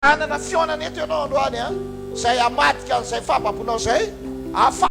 Hanana fihaonana eto ianao androany an! izay hamadika an'izay fahababoanao izay hahafahanao.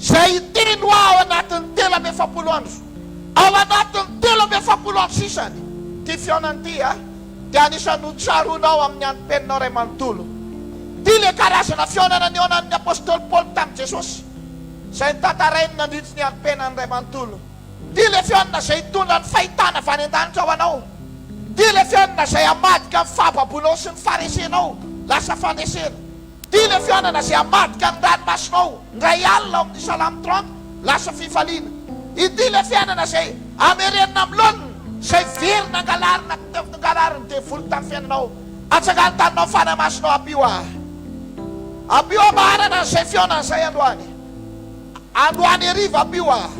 Izay hiteny hoa ao anatin'ny telo amby efapolo andro, ao anatin'ny telo amby efapolo andro sisany, ity fihaonana ity a, dia anisan'ny ho tsaroanao amin'ny antom-peninao iray manontolo. Ity ilay karazana fihaonana nihaonan'ny apostoly Paoly tamin'i Jesosy, izay notantarainy nandritry ny antom-piainany iray manontolo. Ity ilay fihaonana izay hitondra ny fahitana avy any an-danitra ho anao. Ity ilay fihaonana izay hamadika ny fahababoanao sy ny faharesenao lasa fahanesena. Ity le fihaonana ze hamadika ny ranomasonao ndray alina ao amin'ny Salamo trente lasa fifaliana Ity le fihainana zay hamerenina amin'ny laoniny Zay very nangalarina k'teo ngarariny devoly tamin'ny fiainanao Atsangano taninao fanahy masonao Ampio ahy Ampio ahy maharana an'izay fihaonana zay androany Androany heriva Ampio ahy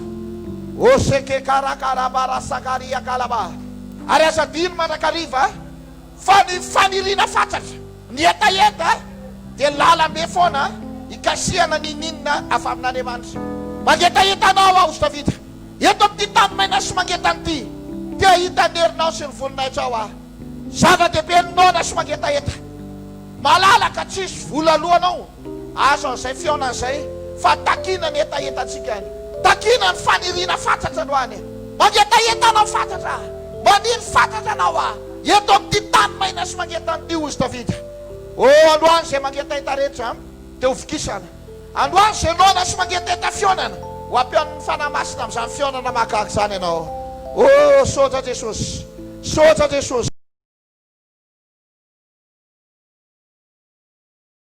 Oseke karaka raba rasaka riaka laba Ary aza adino mandrakariva Fa ny faniriana fatratra, ny hetaheta dia lalambe foana hikasihana ny ininona avy amin'Andriamanitra. Mangetaheta Anao aho, ry Davida, eto amin'ity tany maina sy mangetana ity. Te hahita ny herinao sy ny voninahitrao aho. Zava-dehibe ny noana sy mangetaheta. Malalaka, tsy hisy vola alohanao. Azo an'izay fihaonana izay fa takiana ny hetahetantsika any. Takiana ny faniriana fatratra anao any. Mangetaheta anao fatratra aho. Maniry fatratra anao aho, eto amin'ity tany maina sy mangetahana ity, hozy Davida. Oh, androany izay mangetaheta rehetra amiko dia ho vokisana. Androany izay noana sy mangetaheta fihaonana, ho ampihaonin'ny Fanahy Masina amin'izany fihaonana mahagaga izany ianao. Oh, soja Jesosy! Soja Jesosy!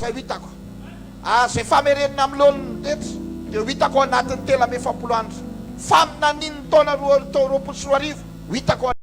Fa ho hitako ary izay famerenina amin'ny laoniny ny rehetra, dia ho hitako ao anatin'ny telo amby efapolo andro faminanian'ny taona roa tao roapolo sy roa arivo, ho hitako ao.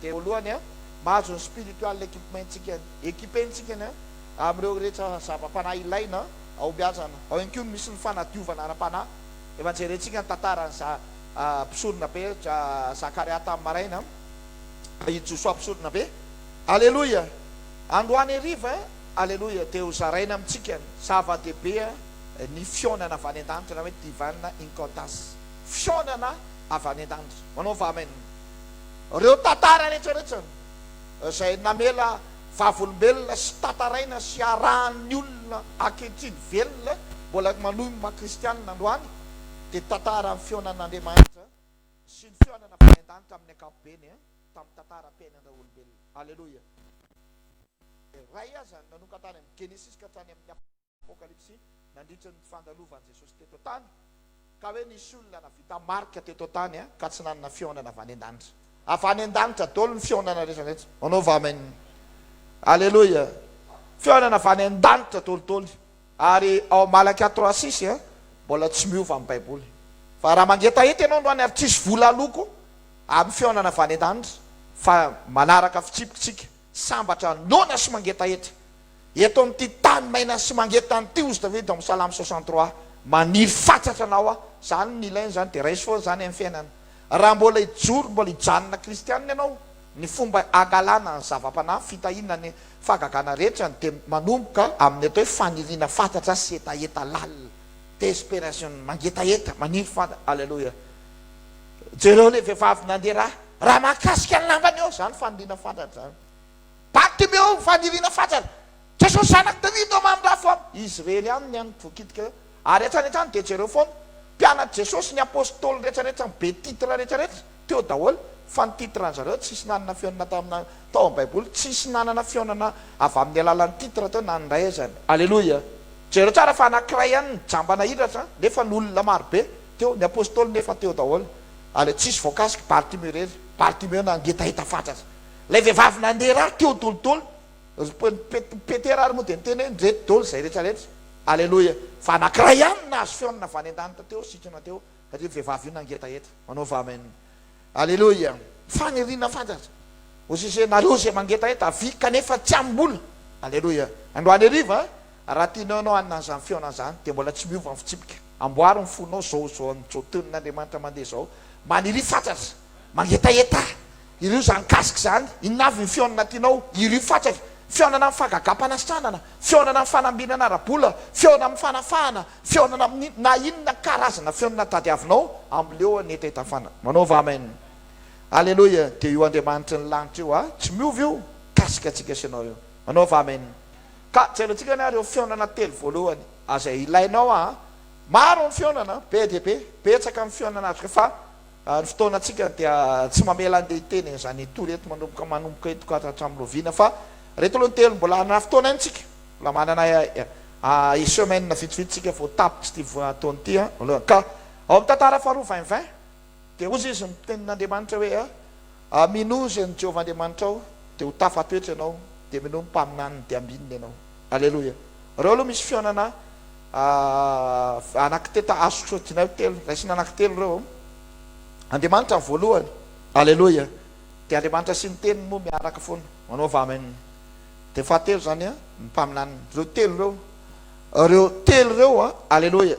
dia voalohany a mahazo ny spiritual equipment-tsika equipe-ntsika ny amin'ireo rehetra zava-panahy ilaina hahombiazana, ao ihany koa no misy ny fanadiovana ara-panahy, efa jerentsika ny tantaran'i za mpisoronabe dra Zakaria tamin'ny maraina, i Josoa mpisoronabe, aleloia, androany hariva. Aleloia, dia ho zaraina amintsika ny zava-dehibe ny fihaonana avy any an-danitra na hoe divine encounters, fihaonana avy any an-danitra. Manaova amen ireo tantara rehetra rehetra izay namela vavolombelona sy tantaraina sy arahan'ny olona ankehitriny velona mbola manohy ny maha kristianina androany dia tantaran'ny fihaonan'Andriamanitra sy ny fihaonana avy any an-danitra amin'ny ankapobeny tamin'ny tantaram-piainan'ireo olombelona. Aleloia. iray aza nanomka tany amin'ny Genesisy ka hatrany amin'ny Apokalypsy nandritra ny fandalovan'i Jesosy teto an-tany, ka hoe nisy olona navita marika teto an-tany ka tsy nanana fihaonana avy any an-danitra. Avy any an-danitra daholo ny fihaonana rehetra rehetra. Manaova amen. Aleloia. Fihaonana avy any an-danitra daholo daholo. Ary ao Malakia trois six mbola tsy miova ny Baiboly. Fa raha mangetaheta ianao androany ary tsisy vola aloako amin'ny fihaonana avy any an-danitra fa manaraka fitsipik'tsika. Sambatra noana sy mangetaheta. Eto amin'ity tany maina sy mangetahana ity hozy Davida ao amin'ny Salamo soixante trois. Maniry fatratra anao aho. Izany no ilaina izany dia raiso foana izany amin'ny fiainana. Raha mbola hijoro, mbola hijanona kristianina ianao, ny fomba hangalana ny zava-panahy, fitahiana ny fahagagana rehetra dia manomboka amin'ny atao hoe faniriana fatratra sy hetaheta lalina. Desperation, mangetaheta, maniry fatratra. Aleloia. Jereo ilay vehivavy nandeha ra. Raha mahakasika ny lambany eo izany faniriana fatratra izany. Bartimeo, ny faniriana fatratra. Jesosy zanak'i Davida ô mamindrafo aho. Izy irery ihany ny an'ny vokitika eo. Ary hatrany hatrany dia jereo foana. Mpianatry Jesosy ny apostoly rehetra rehetra ny be titre rehetra rehetra teo daholo fa ny titre an'ny zareo tsisy nanana fionana tamina tao amin'ny baiboly tsisy nanana fionana avy amin'ny alalan'ny titre teo na ny iray aza ny Aleloia! Jereo tsara fa anankiray ihany ny jamba nahiratra nefa ny olona marobe teo, ny apostoly nefa teo daholo. Aleo tsisy voakasiky Bartimeo irery, Bartimeo nangetaheta fatratra. Ilay vehivavy nandeha ra teo dolidoly, ry Pet, Petera ary moa dia niteny hoe, Ndreto dol izay rehetra rehetra. Aleloia, fa anankiray ihany no nahazo feon-na avy any an-danitra teo, sikina teo, ry vehivavy io nangetaheta. Manaova amen. Aleloia. Faniriana fatratra. Hozizenareo izay mangetaheta, avia, kanefa tsy amim-bola. Aleloia. Androany hariva, Raha tianao ianao hanana an'izany fihaonana izany dia mbola tsy miova ny fitsipika. Amboaro ny fonao izao, izao amin'izao tonin'Andriamanitra mandeha izao, maniria fatratra, mangetaheta, Irio izany mikasika izany, inona avy ny fihaonana tianao, irio fatratra, fihaonana amin'ny fagagam-panasitranana, fihaonana amin'ny fanambinana ara-bola, fihaonana amin'ny fanafahana, fihaonana amin'ny na inona karazana fihaonana tadiavinao, amleo hanetaheta ny fanahy. Manaova Amen. Aleloia, dia io Andriamanitry ny lanitra io, ah, tsy miova io, mikasika antsika sy ianao io. Manaova Amen. Ka jerentsika anie ary ireo fihaonana telo voalohany azay ilainao aa. Maro ny fihaonana, be dia be, betsaka ny fihaonana atrika fa ny fotoanantsika dia tsy mamela andeha hiteny an'izany hitory eto manomboka manomboka eto ka hatramin'ny loviana fa ireto aloha ny telo mbola hanana fotoana ihany tsika mbola manana i semaine vitsivitsy tsika vao tapitra ity fotoana ity aloha ka ao amin'ny tantara faharoa vingt vingt Dia hoy izy ny tenin'Andriamanitra hoe, Aminoa izay ny Jehovah Andriamanitrao, dia ho tafatoetra ianao, dia minoa ny mpaminaniny, dia ambinina ianao. Aleloia! Ireo aloha misy fihaonana Anakteta azo sodina eo telo, raisina Anankitelo ireo ao. Andriamanitra ny voalohany. Aleloia! Dia Andriamanitra sy ny Teniny moa miaraka foana, manaova Amen. Dia ny fahatelo izany ny mpaminaniny. Ireo telo ireo. Ireo telo ireo. Aleloia!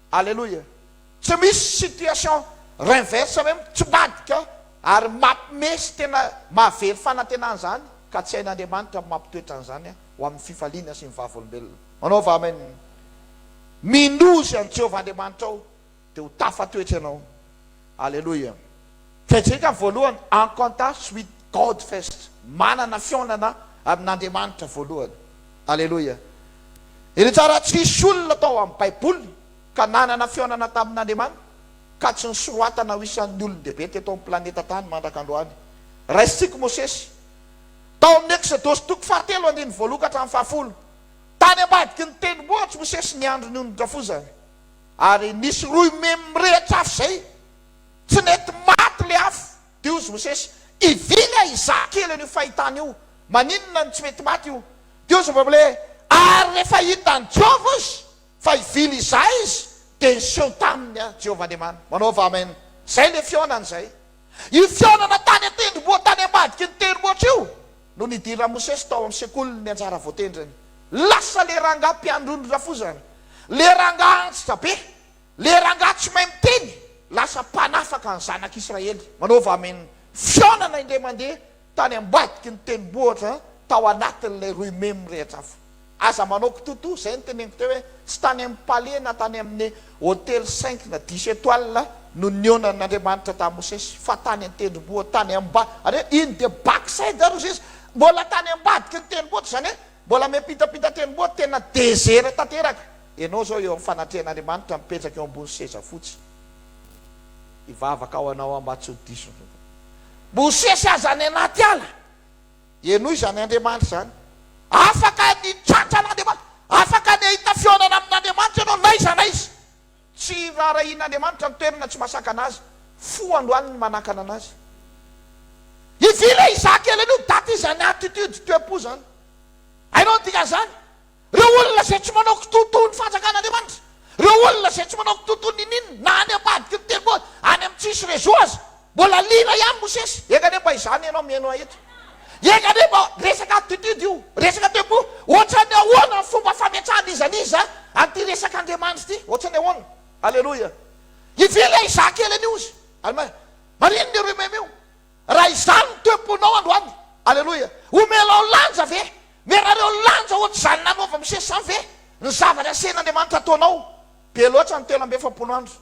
Aleloia tsy misy situation renverse hoe mitsmbadika ary mapme sy tena mahavery fanantenana zany ka tsy hain'Andriamanitra mampitoetra an'zany ho amin'ny fifaliana sy ny vavolombelona manaova amen minozy an'i Jehovah Andriamanitrao dia ho tafatoetra ianao Aleloia Kejekan voalohany Encounters with God First Manana fihaonana amin'Andriamanitra voalohany Aleloia Iretsy raha tsisy olona tao amin'ny baiboly ka nanana fihaonana tamin'Andriamanitra ka tsy nosoratana ho isan'ny olon-dehibe teto amin'ny planeta tany mandraka androany Raisintsika Mosesy tao amin'ny Exodosy toko fahatelo andininy voaloha ka hatramin'ny fahafolo Tany ambadiky ny tendrombohitry Mosesy ny andron'ny onondrafozany Ary nisy rohy memy mirehitra afo izay, tsy nety maty ilay afo, dia hozy Mosesy, Ivily aho hizaha kely an'io fahitana io, maninona no tsy mety maty io? Dia hozy Mvamle, Ary rehefa hitan'i Jehovah izy fa hivily hizaha izy, dia niseho taminy aho, Jehovah Andriamaniny. Manaova amen. Izay ilay fihaonana izay. Io fihaonana tany an-tendrombohitra tany ambadiky ny tendrombohitra io Nony hidiran'i Mosesy tao amin'ny sekoliny ny anjara voatendriny, lasa ilay rangahy mpiandron'ny rafozana, ilay rangahy antitra be, ilay rangahy tsy mahay miteny, lasa mpanafaka ny zanak'Israely. Manaova amin' ny fihaonana indray mandeha tany ambadiky ny tendrombohitra tao anatin'ilay roimemy mirehitra afo. Aza manao kitotoa izay no teneniko teo hoe tsy tany amin'ny palais na tany amin'ny hotely cinq na dix étoiles no nionan' Andriamanitra tamin'i Mosesy fa tany an-tendromboa tany am-ba ary hoe iny dia back side ary hozy izy mbola tany ambadiky ny tendromboa izany hoe mbola miampitapita tendromboa tena dezera tanteraka ianao izao eo amin'ny fanatrehan'Andriamanitra mipetraka eo ambony seza fotsy hivavaka ho anao aho mba tsy ho diso Mosesy aza any anaty ala Henoy izany Andriamanitra izany. Afaka ny hitratra an'Andriamanitra. Afaka ny hahita fihaonana amin'Andriamanitra ianao n'aiza n'aiza. Tsy raharahian'Andriamanitra ny toerana tsy masakana Azy. Fo androany ny manakana an'Azy. Ivy le izaho kely anio, daty izany attitude, toe-po izany. Hainao ny dikan'izany? Ireo olona izay tsy manao kitoa toy ny fanjakan'Andriamanitra, ireo olona izay tsy manao kitoa toy ny ninin, na any am-pahadiky ny tendrombohitra, any amin'ny tsisy réseau aza. Mbola lira ihany Mosesy. Eka anie mba izany ianao mihaino ahy eto. Eka anie mba resaka attitude io, resaka tempo. Ohatran'ny ahoana ny fomba fametrahan'iza n'iza an'ity resaka Andriamanitra ity? Ohatran'ny ahoana? Aleloia. Hivily aho hizaha kely an'io izy. Alma. Maninona ireo meme io? Raha izany ny temponao androany. Aleloia. Omelao lanja ve? Merareo lanja ohatr'izany nanaova Mosesy izany ve ny zavatra asehin'Andriamanitra ataonao? Be loatra ny telo amby efapolo andro.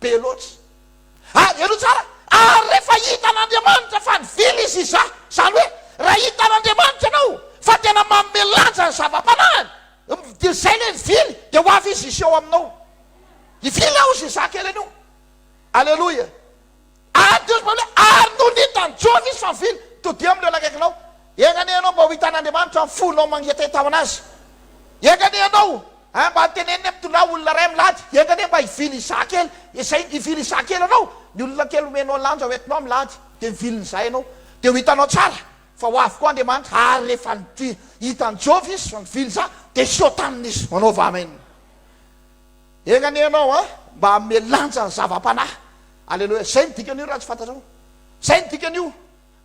Be loatra. Ary jereo tsara, ary rehefa hitan'Andriamanitra fa nivily izy iza, izany hoe raha hitan'Andriamanitra ianao fa tena manome lanja ny zava-panahiny, dia izay ilay nivily, dia ho avy izy hiseho aminao. Hivily aho hoy Zezà kely anio. Aleloia. Ary Dios falou, Ary nony hitan'i Job izy fa mivily, todia amin'ireo nakaikinao. Enga anie ianao mba ho hitan'Andriamanitra amin'ny fonao mangetaheta ho an'Azy. Enga anie ianao eh, mba teneniny hoe mitondrà olona iray milady. Enga anie mba hivily izaho kely. Ezahino hivily izaho kely ianao. Ny olona kely omenao lanja ho entinao milady, dia mivilina izaho ianao. Dia ho hitanao tsara fa ho avy koa Andriamanitra. Ary rehefa hitan'i Job izy fa mivily izaho, dia hisotàna izy. Manaova Amen. Enga anie ianao a mba hanome lanja ny zava-panahy. Aleloia. Zay ny dikan'io raha tsy fantatrao. Zay ny dikan'io.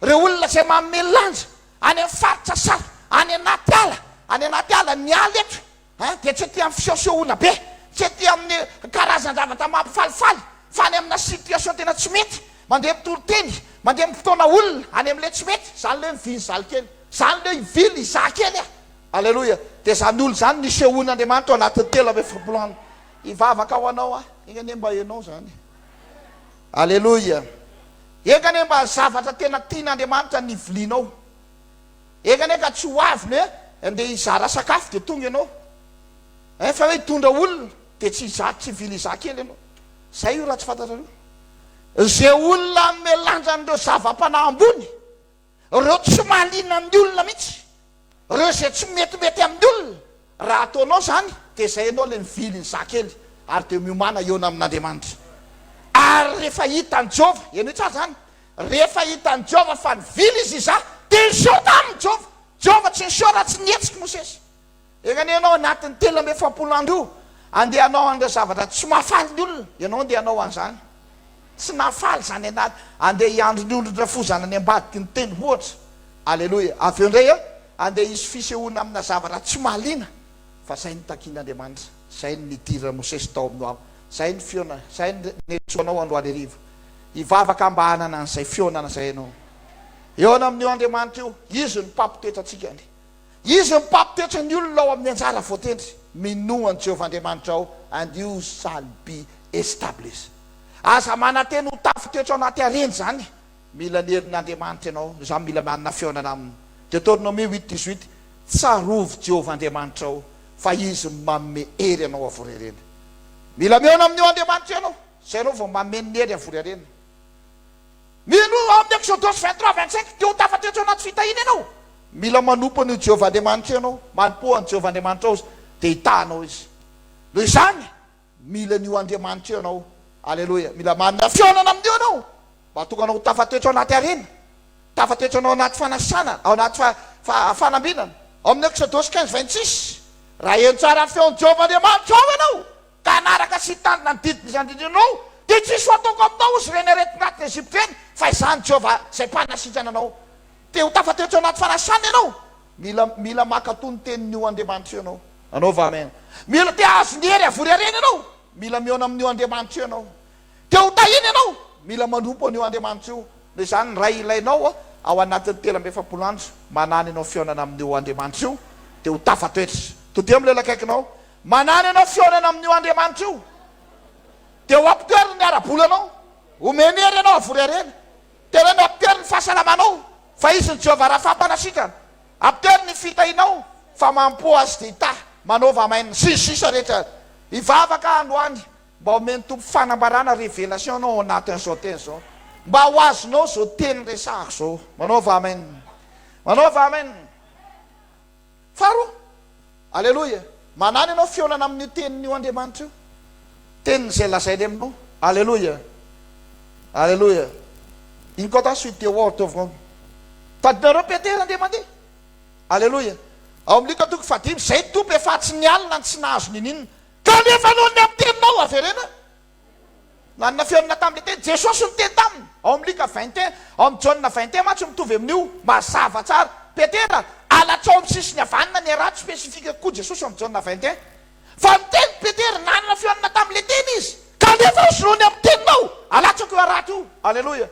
Reo olona zay manome lanja any am faritra saha any anaty ala, any anaty ala, ny ala eto an dia tsy aty am fisehosehoana be, tsy aty amin'ny karazan-javatra mampifalifaly fa any amina situation tena tsy mety, mandeha mitoriteny, mandeha mipitaona olona any amle tsy mety, zany le mivily zalikely, zany le hivily zahakely a. Aleloia! Dia izany olona izany nisehoan'Andriamanitra ao anatin'ny telo amby efapolo andro. Hivavaka ho anao aho. Enga anie mba hainao izany. Aleloia! Enga anie mba zavatra tena tian'Andriamanitra ny vilianao. Enga anie ka tsy ho avy ny hoe andeha hizara sakafo dia tonga ianao. Eh, fa hoe hitondra olona dia tsy hizara, tsy hivily izaho kely ianao. Izay io raha tsy fantatrareo. Izay olona hanome lanja an'ireo zava-panahy ambony. Ireo tsy mahaliana amin'ny olona mihitsy, ireo izay tsy metimety amin'ny olona, raha ataonao izany dia izay ianao ilay mivily ny zahakely ary dia miomàna hihaona amin'Andriamanitra. Ary rehefa hitan'i Jehovah, henoy tsara izany, rehefa hitan'i Jehovah fa nivily izy izaho, dia niseho taminy Jehovah. Jehovah tsy niseho raha tsy nihetsiky Mosesy. Enganie ianao anatin'ny telo amby efapolo andro io andeha hanao an'ireo zavatra tsy mahafaly ny olona, ianao andeha hanao an'izany tsy nahafaly izany anat, andeha hiandry ny olon-drafozana any ambadiky ny tendro ohatra, aleloia, avy eo indray andeha hisy fisehoana amina zavatra tsy mahaliana, fa izay no takin'Andriamanitra, izay no nidiran'i Mosesy tao amin'ny Noa, izay no fiona, izay no niantsoanao androany hariva, hivavaka mba hanana an'izay fihaonana izay ianao, hihaona amin'io Andriamanitra io, Izy no mpampitoetra antsika, ny. Izy no mpampitoetra ny olona ao amin'ny anjara voatendry. Minoa an'i Jehovah Andriamanitrao and you shall be established. Aza manantena ho tafitoetra ao anaty harena izany. Mila ny herin'Andriamanitra ianao. Izaho mila manana fihaonana aminy. Deuteronomie huit dix huit, Tsarovy Jehovah Andriamanitrao fa izy no manome hery anao havory harena. Mila mihaona amin'io Andriamanitra io ianao, izay ianao vao mameno ny hery havory harena. Mino ao amin'ny Eksodosy vingt trois vingt cinq, Te ho tafatry ny teo anaty fitahiana ianao? Mila manompo an'io Jehovah Andriamanitra io ianao. Manompoa an'i Jehovah Andriamanitrao izy, dia hitaha anao izy. Noho izany, mila an'io Andriamanitra io ianao. Aleloia! Mila manome fihaonana amin'io ianao, mba hahatonga anao ho tafatoetra ao anaty harena, tafatoetra anao ao anaty fanasana, ao anaty fa, fa, fanambinana. Ao amin'ny Eksodosy quinze vingt six, Raha heno tsara ny feon'i Jehovah Andriamanitrao ianao, ka hanaraka sy hitandrina ny didiko izany indrindra ianao, dia tsy hisy ho ataoko aminao hozy ireny aretin-draty ny Egypta ireny, fa izaho ny Jehovah izay mpanasitrana anao. Te ho tafaty teo anaty fanasana ianao? Mila, mila mankatò ny tenin'io Andriamanitra io ianao. Anaovao amen. Mila te hahazo ny hery havory harena ianao? Mila mihaona amin'io Andriamanitra io ianao. Te ho tahina ianao? Mila manompo an'io Andriamanitra io. Noho izany, ny Ray ilainao ao anatin'ny telo amby efapolo andro manàna ianao fihaonana amin'io Andriamanitra io, dia ho tafatoetra. Todiho amin'ilay olona akaikinao, Manana ianao fihaonana amin'io Andriamanitra io, dia ho apotery ny ara-bolanao, homeny hery ianao havory harena. Tena hoe miapotery ny fahasalamanao, fa Izy ny Jehovah raha fampanasitrana. Apotery ny fitahianao, fa mampoa azy dia hitahy, manaova maina, sy ny sisa rehetra. Hivavaka androany mba homen'ny Tompo fanambarana, révélation, anao ao anatin'izao teny izao, mba ho azonao izao teny resahako izao. Manaova amen. Manaova amen. Faharoa, Aleloia, manahy ny anao fihaonana amin'io teniny io Andriamanitra io, teniny izay lazainy aminao. Aleloia, Aleloia, Incontá sui teu ou teu vão. Tadidinareo Petera ndeha mandeha. Aleloia, ao amin'ny Lioka toko fahadimy, Izay no Tompo efa tsy nialona ny tsy nahazo n'inon'inona, kanefa noho ny amin'ny teninao averena. Nanana fihaonana tamin'ilay teny. Jesosy niteny taminy, ao amin'ny Lika vingt et un. Ao amin'ny Jaona vingt et un mantsy mitovy amin'io. Mazava tsara. Petera, Alatsao amin'ny sisiny havanana ny arato, spécifique kokoa Jesosy ao amin'ny Jaona vingt et un. Fa niteny Petera, nanana fihaonana tamin'ilay teny izy. Ka nefa hosoloany amin'ny teninao, alatsako io arato io. Aleloia.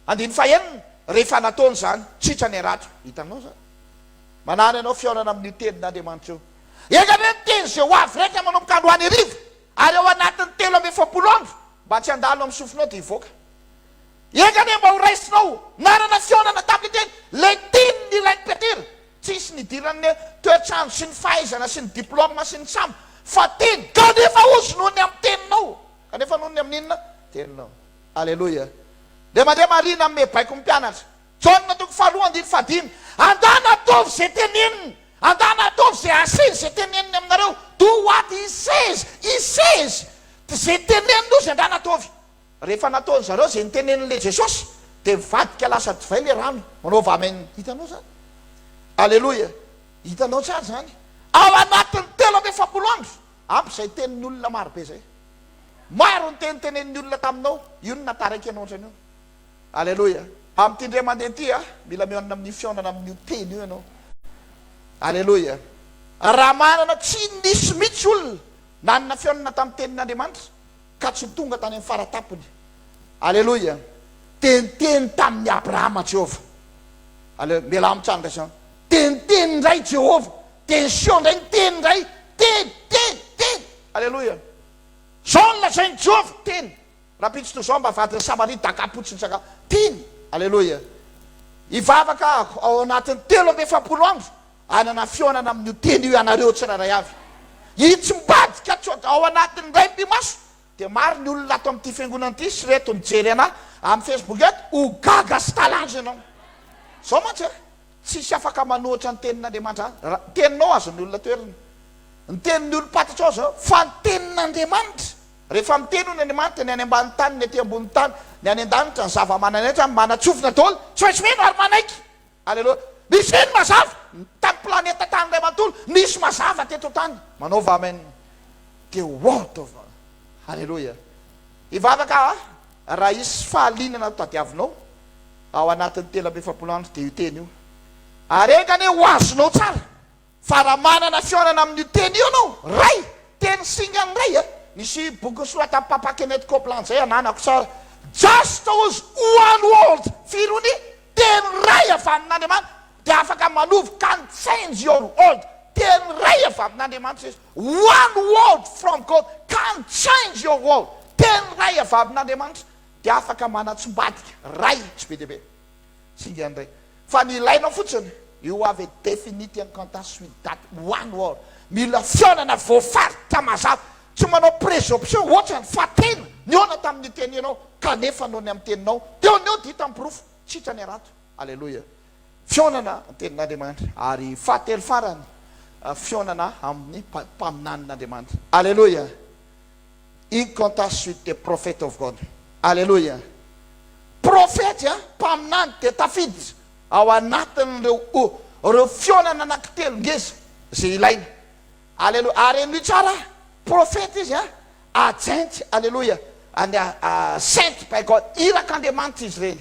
Andininy fahenina, Rehefa nataony izany, tritra ny arato. Hitanao izany? Manana ianao fihaonana amin'io tenin'Andriamanitra io. Enga anie ny teny izay ho avy raika manomboka androany hariva. Ary ao anatin'ny telo amby efapolo andro mba tsy handalo amin'ny sofinao dia hivoaka. Enga anie mba ho raisinao narana fihaonana taminy teny Leitin ny rain'i Petera. Tsy nisy nidiran'ny ny toetrandro sy ny fahaizana sy ny diploma sy ny samy fa teny kanefa ozy noho ny amin'ny teninao kanefa noho ny amin'ny inona? Teninao. Aleloia. Dia mandeha marina amin'ny baiko ny mpianatra. Jaona toko faharoa andininy fahadimy, Andana ataovy izay teneniny, andana ataovy izay asaizy izay teneniny aminareo, do what he says, he says, izay teneniny ozy andana ataovy. Rehefa nataony zareo izay niteneniny le Jesosy dia mivadika lasa divay le rano, manaova amen, hitanao zany? Aleloia, hitanao tsara zany? Ao anatiny telo amby efapolo andro, ampy izay teniny olona maro be zay. Maro ny teny teneniny olona taminao, io no nataraiky anao otrany io. Aleloia! Amin'ity indray mandeha ity a! Mila mihaonana amin'ny fihaonana amin'io Teny io ianao. Aleloia! Raha manana, tsy nisy mihitsy olona nanana fihaonana tamin'ny Tenin'Andriamanitra ka tsy tonga tany amin'ny fara-tampony. Aleloia! Dia niteny tamin'i Abrahama Jehovah. Aleloia! Mialà mitsanga izao. Dia niteny indray Jehovah. Dia niseho indray niteny indray. Teny, teny, teny. Aleloia! Izao no lazain'i Jehovah, Teny. Rampitso toy izao mba vadin'i Samaria dakapotsy ny sakafo tiany. Aleloia. Hivavaka aho ao anatin'ny telo amby efapolo andro hanana fihaonana amin'io teny io ianareo tsirairay avy. Itsy mivadika coga ao anatin'ny iray mby maso dia maro ny olona ato amin'ity fiangonana ity sy ireto mijery anà amin'ny Facebook eto ho gaga sy talanjy ianao. Zao mantsy e, tsisy afaka manohitra ny tenin'Andriamanitra ra teninao azon'ny olona toerana. Ny tenin'ny olom-pantatrao zao fa ny tenin'Andriamanitra. Rehefa miteny hono Andriamanitra, ny any ambany tany, ny aty ambony tany, ny any an-danitra, ny zava-manan'aitra, manatsofina daholo, tsy maintsy mino ary manaiky. Aleloia. Misy ve ny mazava? Tany planeta tany iray manontolo, nisy mazava teto an-tany. Manaova amen. The word of. Aleloia. Hivavaka aho a, raha hisy fahalianana tadiavinao ao anatin'ny telo amby efapolo andro, dia io teny io. Ary enga anie ho azonao tsara. Fa raha manana fihaonana amin'io teny io ianao, Ray, teny singa an'i Ray e! Nisy boky nosoratan'i Papa Kenneth Copeland izay ananako tsara, Just use one word, firy ony? Teny iray avy amin'Andriamanitra dia afaka manovo can change your world, teny iray avy amin'Andriamanitra izy, one word from God can change your world, teny iray avy amin'Andriamanitra dia afaka manatsimbadika, Ray, tsy be dia be. Singa ndray fa ny ilainao fotsiny io ave definite incanta sui dat one word mila fihaonana voafaritra mazava tsy manao presomption hoatrany fa tena nihaona tamin'ny teny ianao kanefa noho ny amin'ny teninao teo ny eo dia hita ny porofo sitrany harato aleloia fihaonana ny tenin'Andriamanitra ary fahatelo farany fihaonana amin'ny mpaminanin'Andriamanitra aleloia Ink contact with the prophet of God Aleloia Profety a mpaminany dia tafiditra ao anatin'ireo o reo fihaonana anankitelo ngeza ze ilaina Aleloia ary henoy tsara a Profety izy a agent Aleloia and a sent by God Irak'Andriamanitra izy ireny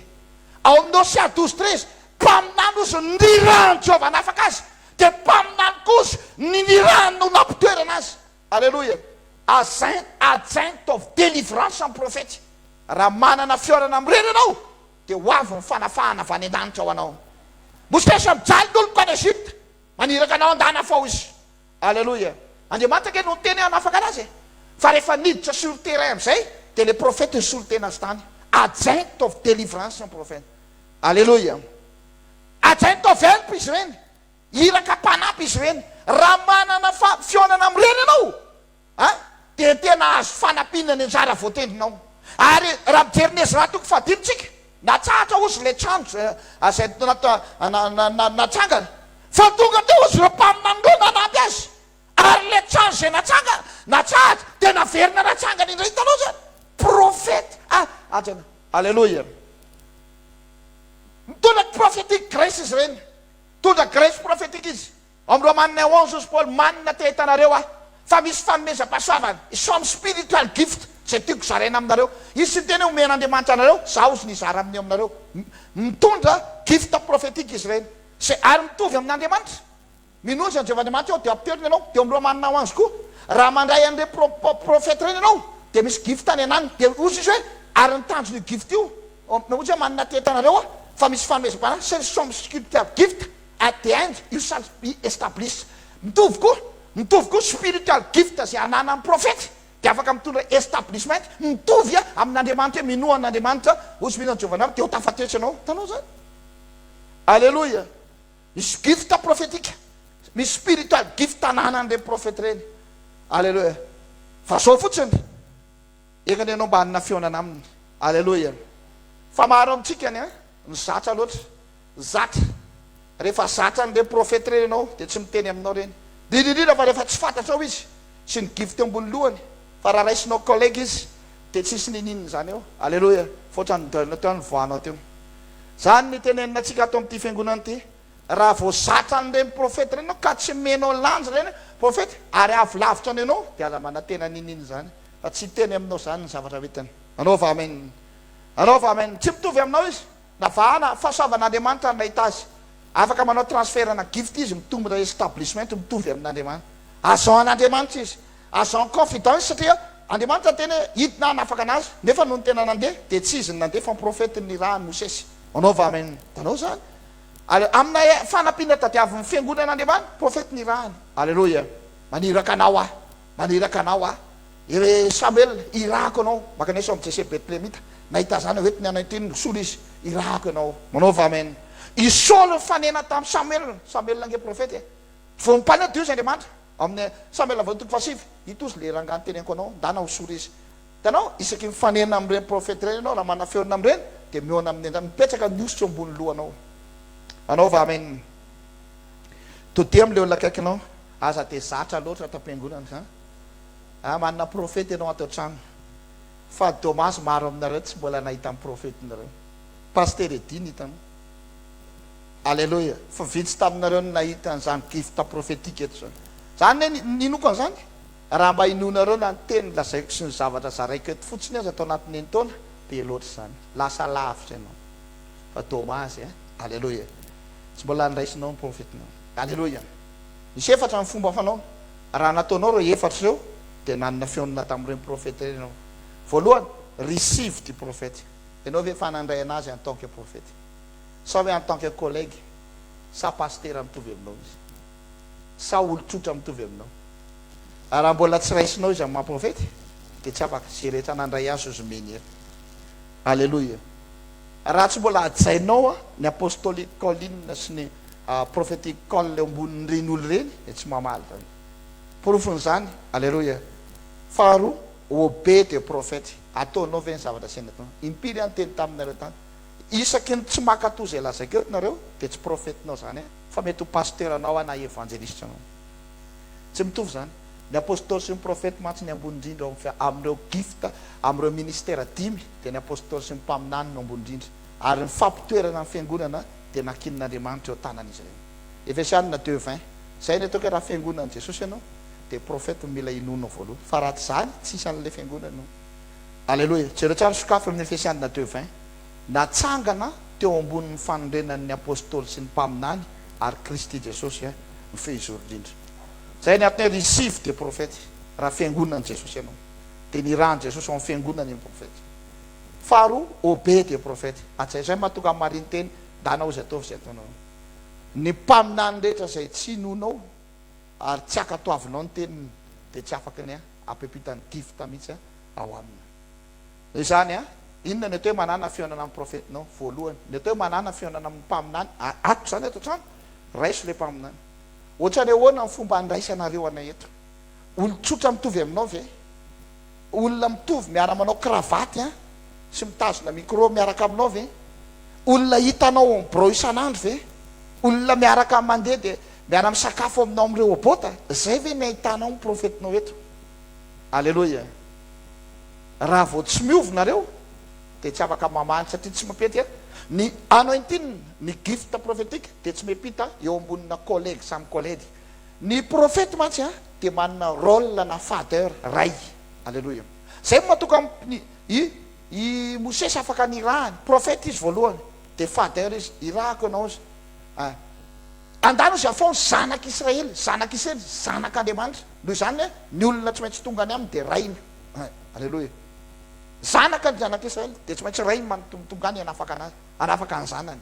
Ao amin'ny Hosea douze treize Mpaminany ozy ny nirahan'i Jehovah hanafaka azy dia mpaminany kozy ny nirahan'ny olona mpitoerana azy Aleloia ajain ajain mitaovy delivrance am profety raha manana fihaonana mirery ianao dia ho avy ny fanafahana avy any andanitra ho anao mosesy mijaly ny oloko any Egypte maniraka anao andana fao izy aleloia Andriamanitra ange no niteny hanafaka anazy e fa rehefa niditra sur terrain amizay dia le profety nisolo tena azy tany ajain mitaovy delivrance am profety aleloia ajain mitaovy help izy ireny Iraka mpanampy izy ireny. Raha manana fa fihaonana amin'ireny ianao a, dia tena hahazo fanampiana ny anjara voatendrinao. Ary raha mijery ny Ezra toko fahadimy tsika, natsahatra ozy ilay trano izay natsangana, fa tonga teo ozy ireo mpaminany ireo nanampy azy, ary ilay trano izay natsangana, natsahatra, dia naverina natsangana indray. Hitanao izany? Profeta a, aja na. Aleloia. Mitondra ny prophetic grace izy ireny. Nitondra graisse prophétique izy amin'ny Romanina onze hozy Paoly, Manina te hitanareo aho fa misy fanomezam-pahasoavana, some spiritual gift, izay tiako zaraina aminareo. Izy tsy niteny hoe omen'Andriamanitra anareo, izaho izy nizara amin'ny aminareo. Mitondra gift prophétique izy ireny, izay ary mitovy amin'Andriamanitra. Minoa izany Jehovah Andriamanitra ianao dia apoterony ianao, dia ao amin'ny Romanina onze koa, raha mandray an'ireny prophète ireny ianao dia misy gift anenany, dia hozy izy hoe ary ny tanjon'io gift io Ompina ohatry ny manana teta anareo aho fa misy fanomezam-panahy chez les chambres sculpteurs gift at the end you shall be established mitovy koa mitovy koa spiritual gift izay ananan'ny profety dia afaka mitondra establishment mitovy amin'Andriamanitra hoe minoa an'Andriamanitra hoy Smith an'i Jovanary dia ho tafatesy ianao hitanao izany Aleloia misy gift profetika misy spiritual gift ananan'ireny profety ireny Aleloia fa izao fotsiny Engany ianao mba hanana fihaonana aminy. Aleloia. Fa maro amintsika ny ny zatra loatra. Zatra. Rehefa zatra an'ireny profety ireny ianao dia tsy miteny aminao ireny. Indrindra indrindra fa rehefa tsy fantatrao izy sy ny gift eo ambony lohany. Fa raha raisinao collègue izy dia tsy hisy niniana izany eo. Aleloia. Fa ohatran'ny deuil teo ny voanao teo. Izany ny tenenina antsika ato amin'ity fiangonana ity. Raha vao zatra an'ireny profety ireny ianao ka tsy omenao lanjy ireny profety ary avy lavitra any ianao dia aza manantena niniana izany. Fa tsy hiteny aminao izany ny zavatra vitany. Anaova Amen. Anaova Amen. Tsy mitovy aminao izy. Navahana, fahasoavan'Andriamanitra no nahita azy. Afaka manao transfert na gift izy, mitombo na establishment, mitovy amin'Andriamanitra. Agent an'Andriamanitra izy. Agent en confidence satria Andriamanitra niteny hoe hidina hanafaka anazy, nefa nony tena nandeha dia tsy izy no nandeha fa profety no nirahan'i Mosesy. Anaova Amen. Tanao izany. Allél. Amina fanampiana tadiavin'ny Fiangonan'Andriamanitra, profety nirahany. Alléluia. Maniraka anao aho. Maniraka anao aho, ry Samoela, irahako ianao, mankanesa ao amin'i Jese Betlehemita. Nahita izany aho eto ny anentiny, mosolo izy, irahako ianao. Manaova amen. I Saoly nifanena tamin'i Samoela, Samoela ange profeta e! Vao mipaina dio izy Andriamanitra, ao amin'ny Samoela voalohany toko fahasivy, ito ozy ilay rangahy niteneniko anao, ndana hosolo izy. Hitanao, isaky ny mifanena amin'ireny profeta ireny ianao, raha manafeona amin'ireny, dia mihaona amin'ny endriny, mipetraka ny osy eo ambonin'ny lohanao. Manaova amen. Todidio amin'ilay olona akaikinao. Aza dia zatra loatra ato am-piangonana ka. Aah manana profeta ianao ato an-trano fa dommage maro aminareo tsy mbola nahita ny profetinareo. Pasitera Eddy no hitanao. Alléluia. Fa vitsy taminareo no nahita an'izany gift prophetique eto izany. Izany anie ny ninoako an'izany. Raha mba inoanareo na ny teny lazaiko sy ny zavatra zaraiko eto fotsiny aza tao anatin'ny enin-taona, be loatra izany. Lasa lavitra ianao. Fa dommage eh. Alléluia. Tsy mbola andraisinao ny profetinao. Alléluia. Nisy efatra ny fomba fanaony. Raha nataonao ireo efatra ireo, dia nanana fihaonana tamin'ireny profeta ireny ianao. Voalohany, receive the prophet. Ianao ve efa nandray an'azy en tant que profeta? Sa hoe en tant que collègue? Sa pasitera mitovy aminao izy? Sa olon-tsotra mitovy aminao? Raha mbola tsy raisinao izy amin'ny maha-profeta, dia tsy afaka. Izay rehetra nandray azy hozy menhier. Aleloia. Raha tsy mbola hajainao ny apostolic calling sy ny Prophetic call eo ambonin'ireny olona ireny dia tsy mamaly izany. Porofon'izany, Aleloia. Faharoa, obey the prophet, ataonao ve ny zavatra asany atao. Impiry aho niteny taminareo tany, isaky ny tsy mankatò izay lazaiko eto nareo dia tsy profetinao izany an, fa mety ho pasteranao an na evanjelisitra anao. Tsy mitovy izany. Ny apostoly sy ny profety mantsy ny ambony indrindra eo amin'ny, amin'ireo gift, amin'ireo ministera dimy dia ny apostoly sy ny mpaminany no ambony indrindra. Ary ny fampitoerana ny fiangonana dia nankinin'Andriamanitra eo an-tanan'izy ireny. Efesianina deux vingt, Izay ny ataoko hoe raha fiangonan'i Jesosy ianao dia profeta no mila inoanao voalohany fa raha tsy izany tsisy an'ilay fiangonana io. Aleloia! Jereo tsara ny sokafy amin'ny Efesianina deux vingt, Natsangana teo ambonin'ny fanorenan'ny Apostoly sy ny Mpaminany ary Kristy Jesosy eh, ny feo hizoro indrindra. Izay ny antony hoe risivo dia profeta eh, raha fiangonan'i Jesosy ianao dia nirahan'i Jesosy ho amin'ny fiangonany ny profeta. Faharoa, obey Dia profeta, hajaina izay mahatonga ny marinteny, ndana ozy ataovy izay ataonao Ny mpaminany rehetra izay tsy inoanao ary tsy ankatoavinao ny teniny dia tsy afaka ny hampipita ny gifta mihitsy ao aminy izany a Inona ny atao hoe manana fihaonana amin'ny profetinao? Voalohany, ny atao hoe manana fihaonana amin'ny mpaminany, a atoko izany eto an-trano, raiso ilay mpaminany. Ohatran'ny ahoana ny fomba andraisanareo anay eto? Olon-tsotra mitovy aminao ve? Olona mitovy miara manao kravaty an, sy mitazona micro miaraka aminao ve? Olona hitanao en birao isan'andro ve? Olona miaraka mandeha dia miara misakafo aminao amin'ny rehobota? Zay ve ny ahitanao ny profetinao eto? Aleloia! Raha vao tsy miova nareo dia tsy afaka mamaly satria tsy mipetya ny anointing, ny gift prophetique dia tsy mipita eo ambonina collègue samy collègue. Ny profety mantsy a dia manana rôle na father, ray. Aleloia. Izay no mahatonga ny i i Mosesy afaka nirahany. Profety izy voalohany dia father izy, irahako ianao izy a. Andalo izy afaony zanak' Israely, zanak' Isely, zanak' Andriamanitra. Noho izany hoe ny olona tsy maintsy tonga any aminy dia rainy. Aleloia. Zanak' ny zanak' Israely dia tsy maintsy rainy manontony tonga any hanafaka anazy, hanafaka ny zanany.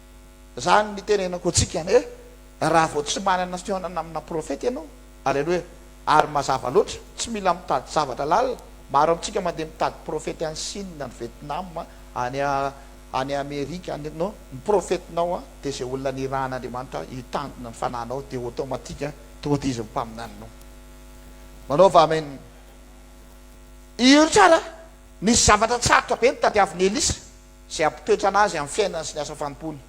Zany nitenenako antsika anie raha vao tsy manana fihaonana amina profeta ianao. Aleloia. Ary mazava loatra, tsy mila mitady zavatra lalina, maro amintsika mandeha mitady profeta any Sina, any Vietnam, any any Amerika any non, ny profetinao dia izay olona nirahan'Andriamanitra hitandrina ny fanahinao dia automatique tody izy ny mpaminaninao. Manaova amen. Io tsara, nisy zavatra tsarotra be notadiavin'i Elisa. izay hampipetrana azy amin'ny fiainany sy ny asa fanompoany.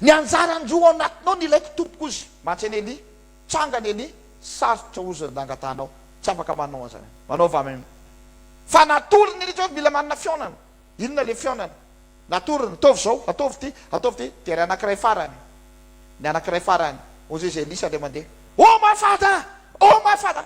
Ny anjarany roa ao anatinao ny ilaiko tompoko ozy matsy any Elia, tsanga any Elia, sarotra ozy ny nangatanao, tsy afaka manao anzany, manaova amim. Fa natory ny Elia, mila manana fihaonana, inona le fihaonana, natory ny, ataovy zao, ataovy ty, ataovy ty, dia ry anakiray farany, ny anakiray farany, ozy izy Elisa ndray mandeha, oh ma father, oh ma father,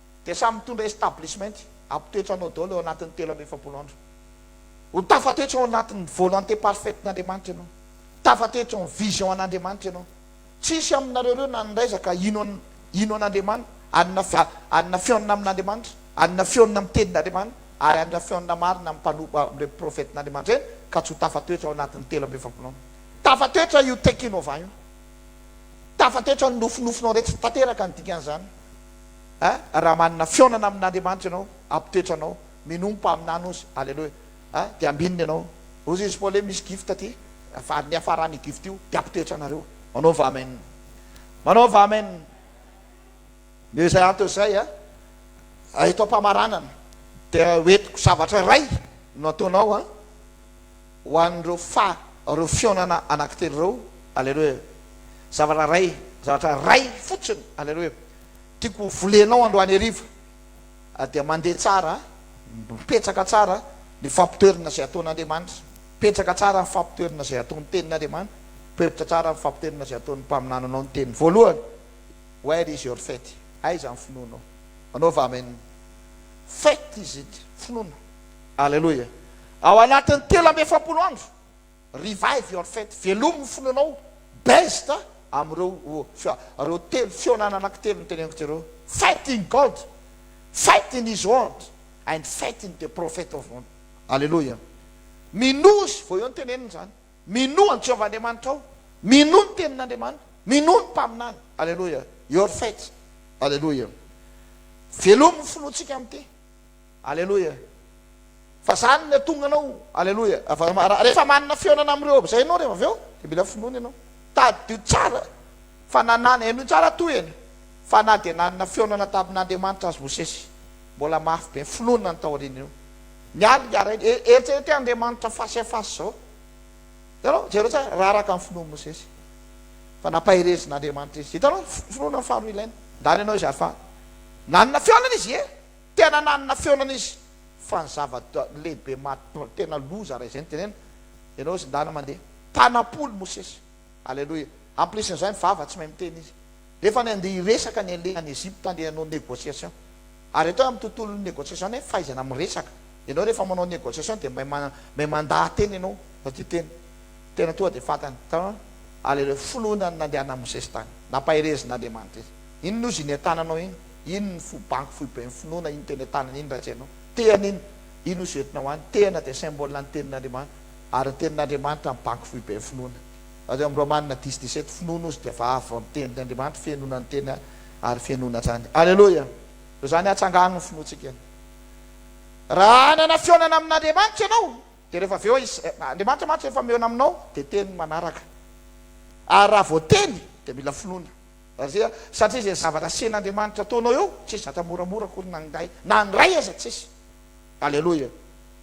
dia samy mitondra establishment ampitoetra anao daholo ao anatin'ny telo amby efapolo andro. Ho tafatoetra ao anatin'ny volonté parfaite n'Andriamanitra ianao. Tafatoetra ao amin'ny vision an'Andriamanitra ianao. Tsisy aminareo ireo na ny raiza ka hino an, hino an'Andriamanitra, hanina fi, hanina fihaonana amin'Andriamanitra, hanina fihaonana amin'ny tenin'Andriamanitra, ary hanina fihaonana marina amin'ny mpanompo, amin'ireo profetin'Andriamanitra ireny, ka tsy ho tafatoetra ao anatin'ny telo amby efapolo andro. Tafatoetra io tekinova io. Tafatoetra ny nofinofinao rehetra. Tanteraka ny dikan'izany. eh raha manana fihaonana amin'Andriamanitra ianao apotetra anao minoa mpaminany ozy aleloia eh dia ambinina ianao ozy izy paoly hoe misy gift aty fa niafarany io gift io dia apotetra anareo manaova amen manaova amen dia izay antony izay eh eto ampamaranana dia hoentiko zavatra iray no ataonao eh Ho an'ireo fa ireo fihaonana anankitelo ireo, Aleloia, zavatra iray, zavatra iray fotsiny, Aleloia, tiako ho volenao androany hariva, dia mandeha tsara, mipetraka tsara ny fampitoerana izay ataon'Andriamanitra, mipetraka tsara ny fampitoerana izay ataon'ny Tenin'Andriamanitra, mipetrka tsara ny fampitoerana izay ataon'ny mpaminananao ny Teniny voalohany, Where is your faith? Aiza ny finoanao? Anaova amin' ny faith izy ity, finoana. Aleloia! Ao anatin'ny telo amby efapolo andro, revive your faith, velomy ny finoanao, based amin'ireo ireo telo fihaonana anankitelo noteneniko teo ireo, faith in God, faith in His word and faith in the prophet of God. Aleloia! Minoa Izy vao eo ny teneniny izany. Minoa an'i Jehovah Andriamanitrao. Minoa ny Tenin'Andriamanitra. Minoa ny Mpaminany. Aleloia! Your faith. Aleloia! Velomy ny finoantsika amin'ity. Aleloia fa zany ny atonga anao aleloia rehefa manana fihaonana am reo amzay enao rehefa avy eo de mila finoana enao tadidio tsara fa na na henoy tsara tohiny fa na dia nanana fihaonana tamin Andriamanitra azy Mosesy mbola mafy be ny finoana ny taoriana io ny aliny harainy e eritrereto Andriamanitra face à face zao hitanao jereo tsara raha araka ny finoan Mosesy fa nampaherezin Andriamanitra izy hitanao finoana ny faharoa ilaina ndany enao izay afahana nanana fihaonana izy e Tena nanana feonana izy fa ny zava lehibe maha tena loza raha izay no tenenina ianao zindana mandeha tanampolo mosesy aleloia en plus n'izay ny vava tsy mahay miteny izy nefa ny andeha hiresaka ny aleha any Egypte andeha hanao negociation ary atao amin'ny tontolon'ny negociation ny fahaizana miresaka ianao rehefa manao negociation dia may may mandaha teny ianao satria teny tena toa dia fantany aleloia finoana ny nandehanan'i mosesy tany nampaherezin'Andriamanitra izy Inn ozy iny atananao iny, inn ny fo banky foiben'ny finoana iny teny atanana iny raha tsy hainao. Tehana iny, iny ozy entinao any. Tehana dia symbole ny tenin'Andriamanitra. Ary ny tenin'Andriamanitra ny banky foiben'ny finoana. Raha teo amin'ny Romana dix dix sept, finoana ozy dia vavy vao ny tenin' Andriamanitra, fenona ny teny ary fenona hatrany. Aleloia! Toy izany hatsangano ny finoantsika. Raha hanana fihaonana amin'Andriamanitra ianao, dia rehefa avy eo izy, Andriamanitra mantsy rehefa mihaona aminao dia teny ny manaraka. Ary raha vao teny dia mila finoana. Azia, satria izay zavatra asian'Andriamanitra ataonao eo tsisy zatra moramora akory na indray na indray aza tsisy. Aleloia.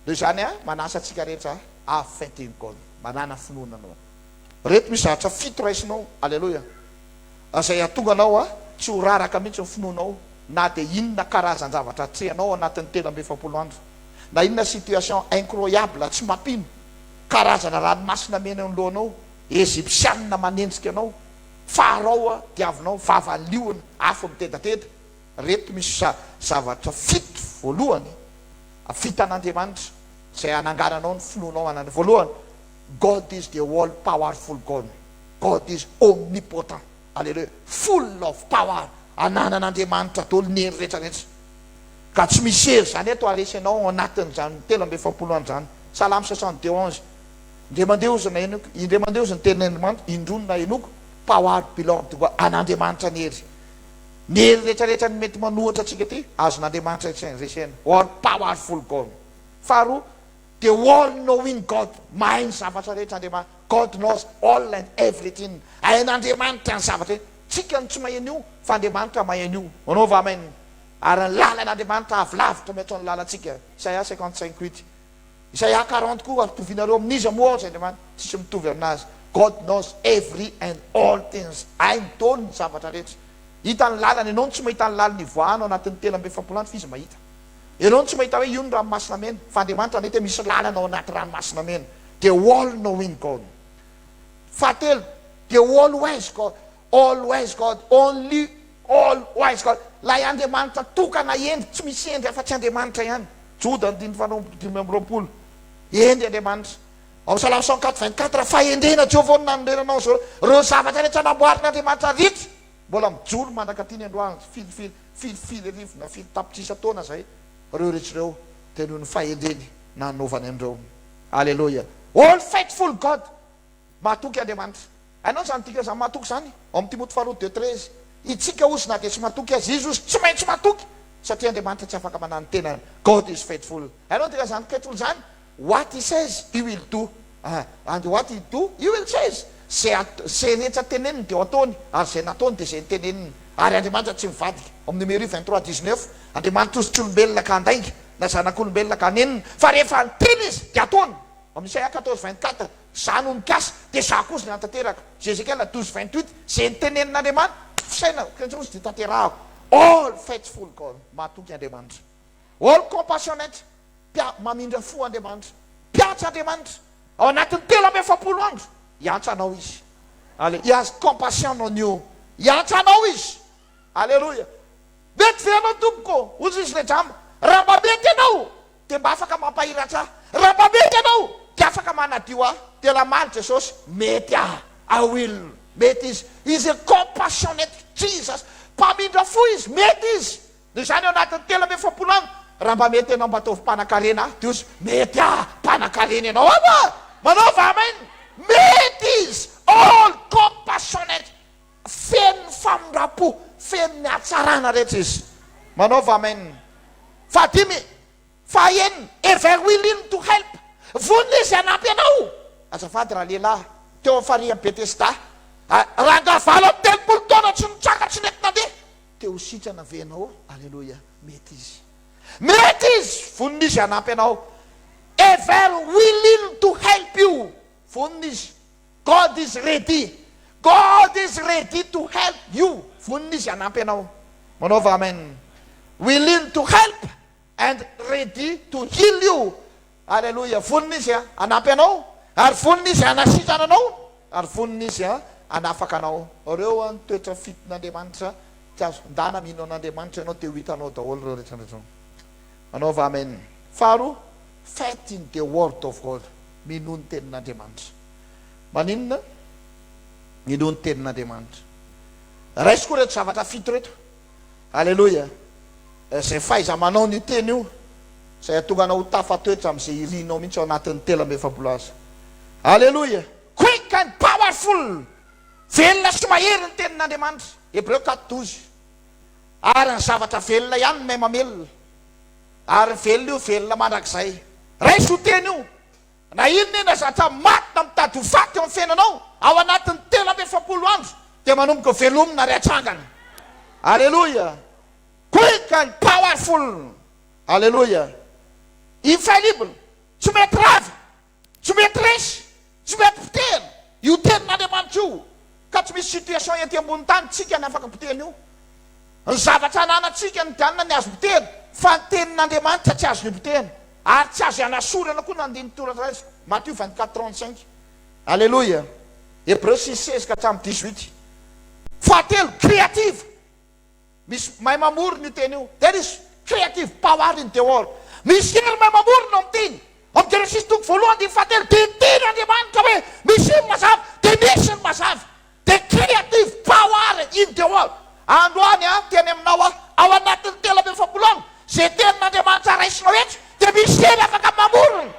Noho izany aho manasa antsika rehetra have faith in God, manana finoana anao. Ireto misy zavatra fito raisinao, aleloia, izay hahatonga anao tsy ho raraka mihitsy ny finoanao na dia inona karazan-javatra atrehanao ao anatin'ny telo amby efapolo andro, na inona situation incroyable tsy mampino, karazana ranomasina miaina eo ny lohanao, Ejipsianina manenjika anao, Fa arao a, diavinao, fa avalio ny afo mitedateda, reto misy zavatra fito, voalohany, vita an'Andriamanitra, izay anangananao ny finoanao anany, voalohany, God is the all powerful God, God is omnipotent, aleloia, full of power, ananan'Andriamanitra daholo ny hery rehetra rehetra, ka tsy misy hery izany eto haharesy anao ao anatin'izany telo amby efapolo andro izany, salamo soixante deux onze, Indray mandeha hozy ny nahenoiko, indray mandeha hozy ny tenin'Andrimanitra, indroa ny nahenoiko, Power belong to God, an'Andriamanitra ny hery. Ny hery rehetrarehetra ny mety manohitra antsika ity, azon'Andriamanitra resena, All powerful God. Faharoa, The all knowing God, mahay ny zavatra rehetra Andriamanitra, God knows all and everything, hain'Andriamanitra ny zavatra rehetra, tsika no tsy mahay an'io fa Andriamanitra mahay an'io, manaova Amen, ary ny lalan'Andriamanitra avo lavitra mihoatran'ny lalantsika, Isaia cinquante cinq huit. Izay A quarante koa ampitovianareo amin'iza moa aho ry Andriamanitra? Tsisy mitovy aminazy. God knows every and all things, hainy dôly ny zavatra rehetra. Hita ny lalany, ianao no tsy mahita ny laliny hivoahana ao anatin'ny telo amby efapolo andro f'izy mahita. Ianao no tsy mahita hoe io ny ranomasina mena, fa Andriamanitra mety hoe misy lalana ao anaty ranomasina mena. The all knowing God. Fahatelo, The all wise God. All wise God, only all wise God, Ilay Andriamanitra tokana hendry, tsy misy hendry afa-tsy Andriamanitra ihany, Joda andininy faharoapolo dimy amby roapolo, hendry Andriamanitra. Ao Salamo cent quatre vingt quatre, fahendrena Jehovah no nanorenanao izao, ireo zavatra rehetra namboarin'Andriamanitra rehetra, mbola mijoro mandrak'aty ny androany, firy firy, firy firy arivo na firy tapitrisa taona izay, ireo rehetra ireo dia noho ny fahendreny nanaovany an'ireo. Aleloia! All faithful God, Mahatoky Andriamanitra. Hainao izany dikany izany mahatoky izany? Ao amin'ny Timoty faharoa deux treize. Itsika ozy na dia tsy matoky aza izy ozy tsy maintsy matoky satria Andriamanitra tsy afaka manahy ny tenany. God is faithful. Hainao dikany izany faithful izany? What he says he will do and what he do he will says. Izay atao, izay rehetra teneniny dia ho ataony ary izay nataony dia izay noteneniny. Ary Andriamanitra tsy mivadika. Ao amin'ny Numéri vingt trois dix neuf. Andriamanitra ozy tsy olombelona ka handainga na zanak'olombelona ka hanenina fa rehefa niteny izy dia ataony. Amin'ny Isaia quatorze vingt quatre, Izaho no nikasa, dia Izaho koa izay hanatanteraka. Zézéchiel douze vingt huit, Izay notenenin'Andriamanitra, fisainako, kentsonosy, dia tanterahako. All faithful God, mahatoky Andriamanitra. All compassionate, mpia, mamindra fo Andriamanitra. Mpiantsa Andriamanitra. Ao anatin'ny telo amby efapolo andro, hiantsa anao Izy. Allé, He has compassion on you, hiantsa anao Izy. Aleloia. Mety ve ianao, Tompoko, hoy izy ilay jamba, raha mba mety ianao, Dia mba afaka mampahiratra ahy. Raha mba mety ianao, dia afaka manadio ahy. Dia lamaly Jesosy, Mety aho. I will. Mety Izy. Izy is compassionate. Jesus. Mpamindra fo Izy. Mety Izy. Noho izany, ao anatin'ny telo amby efapolo andro, raha mba mety ianao, mba ataovy mpanankarena ahy. Dia hozy, Mety aho. Mpanankarena ianao aho a! Manaova Amen. Mety Izy. All compassionate. Feno ny famindram-po, feno ny hatsarana rehetra izy. Manaova Amen. Fahadimy, fahaenina, ever willing to help, vonona izy hanampy anao. Azafady raha lehilahy, teo amin'ny farihin'i Betesda, rangahy valo amby telopolo taona tsy nitraka, tsy nety nandeha, te ho sitrana ve ianao? Aleloia, mety izy. Mety izy, vonona izy hanampy anao. Ever willing to help you, vonona izy. God is ready God is ready to help you Vonona Izy hanampy anao Manaova Amen Willing to help and ready to heal you Alléluia Vonona Izy hanampy anao ary vonona Izy hanasitrana anao ary vonona Izy hanafaka anao Ireo ny toetra fiton' Andriamanitra Tsy azo findana Mino an' Andriamanitra ianao dia ho hitanao daholo ireo rehetra ireo Manaova Amen Faharoa Faith in the word of God, minoa ny tenin'Andriamanitra. Maninona? Minoa ny tenin'Andriamanitra. Raisiko ireto zavatra fito ireto. Aleloia. Izay fahaiza-manao an'io teny io, izay hahatonga anao ho tafatoetra amin'izay irinao mihitsy ao anatin'ny telo amby efapolo aza. Aleloia. Quick and powerful, velona sy mahery ny tenin'Andriamanitra, Hebreo quatre douze. Ary ny zavatra velona ihany no mahay mamelona. Ary velona io velona mandrakizay. Raiso teny io. Na inona inona zatra maty na mitady ho faty eo amin'ny fiainanao, ao anatin'ny telo amby efapolo andro dia manomboka velomina ary atrangana. Aleloia. Quick and powerful. Aleloia. Infallible. Tsy mety rava. Tsy mety resy, tsy mety potehina io tenin'Andriamanitra io ka tsy misy situation ety ambony tany tsika ny afaka potehina io. Ny zavatra ananantsika ny dianina ny azo potehina fa ny tenin'Andriamanitra tsy azo nipotehina ary tsy azo ianasorana koa ny andinin-toratra raisiko, Matio vingt quatre trente cinq. Aleloia. Hebreu six seize ka hatramin'ny dix huit. Fahatelo, creative. Misy mahay mamorona io teny io. There is creative power in the world. Misy hery mahay mamorona ao amin'ny teny. Ao amin'ny Genesisy toko voalohany andininy fahatelo dia niteny Andriamanitra hoe misy ny mazava dia nisy ny mazava. The creative power in the world. Androany aho miteny aminao aho, ao anatin'ny telo amby efapolo andro, izay tenin'Andriamanitra raisinao eto dia misy hery afaka mamorona.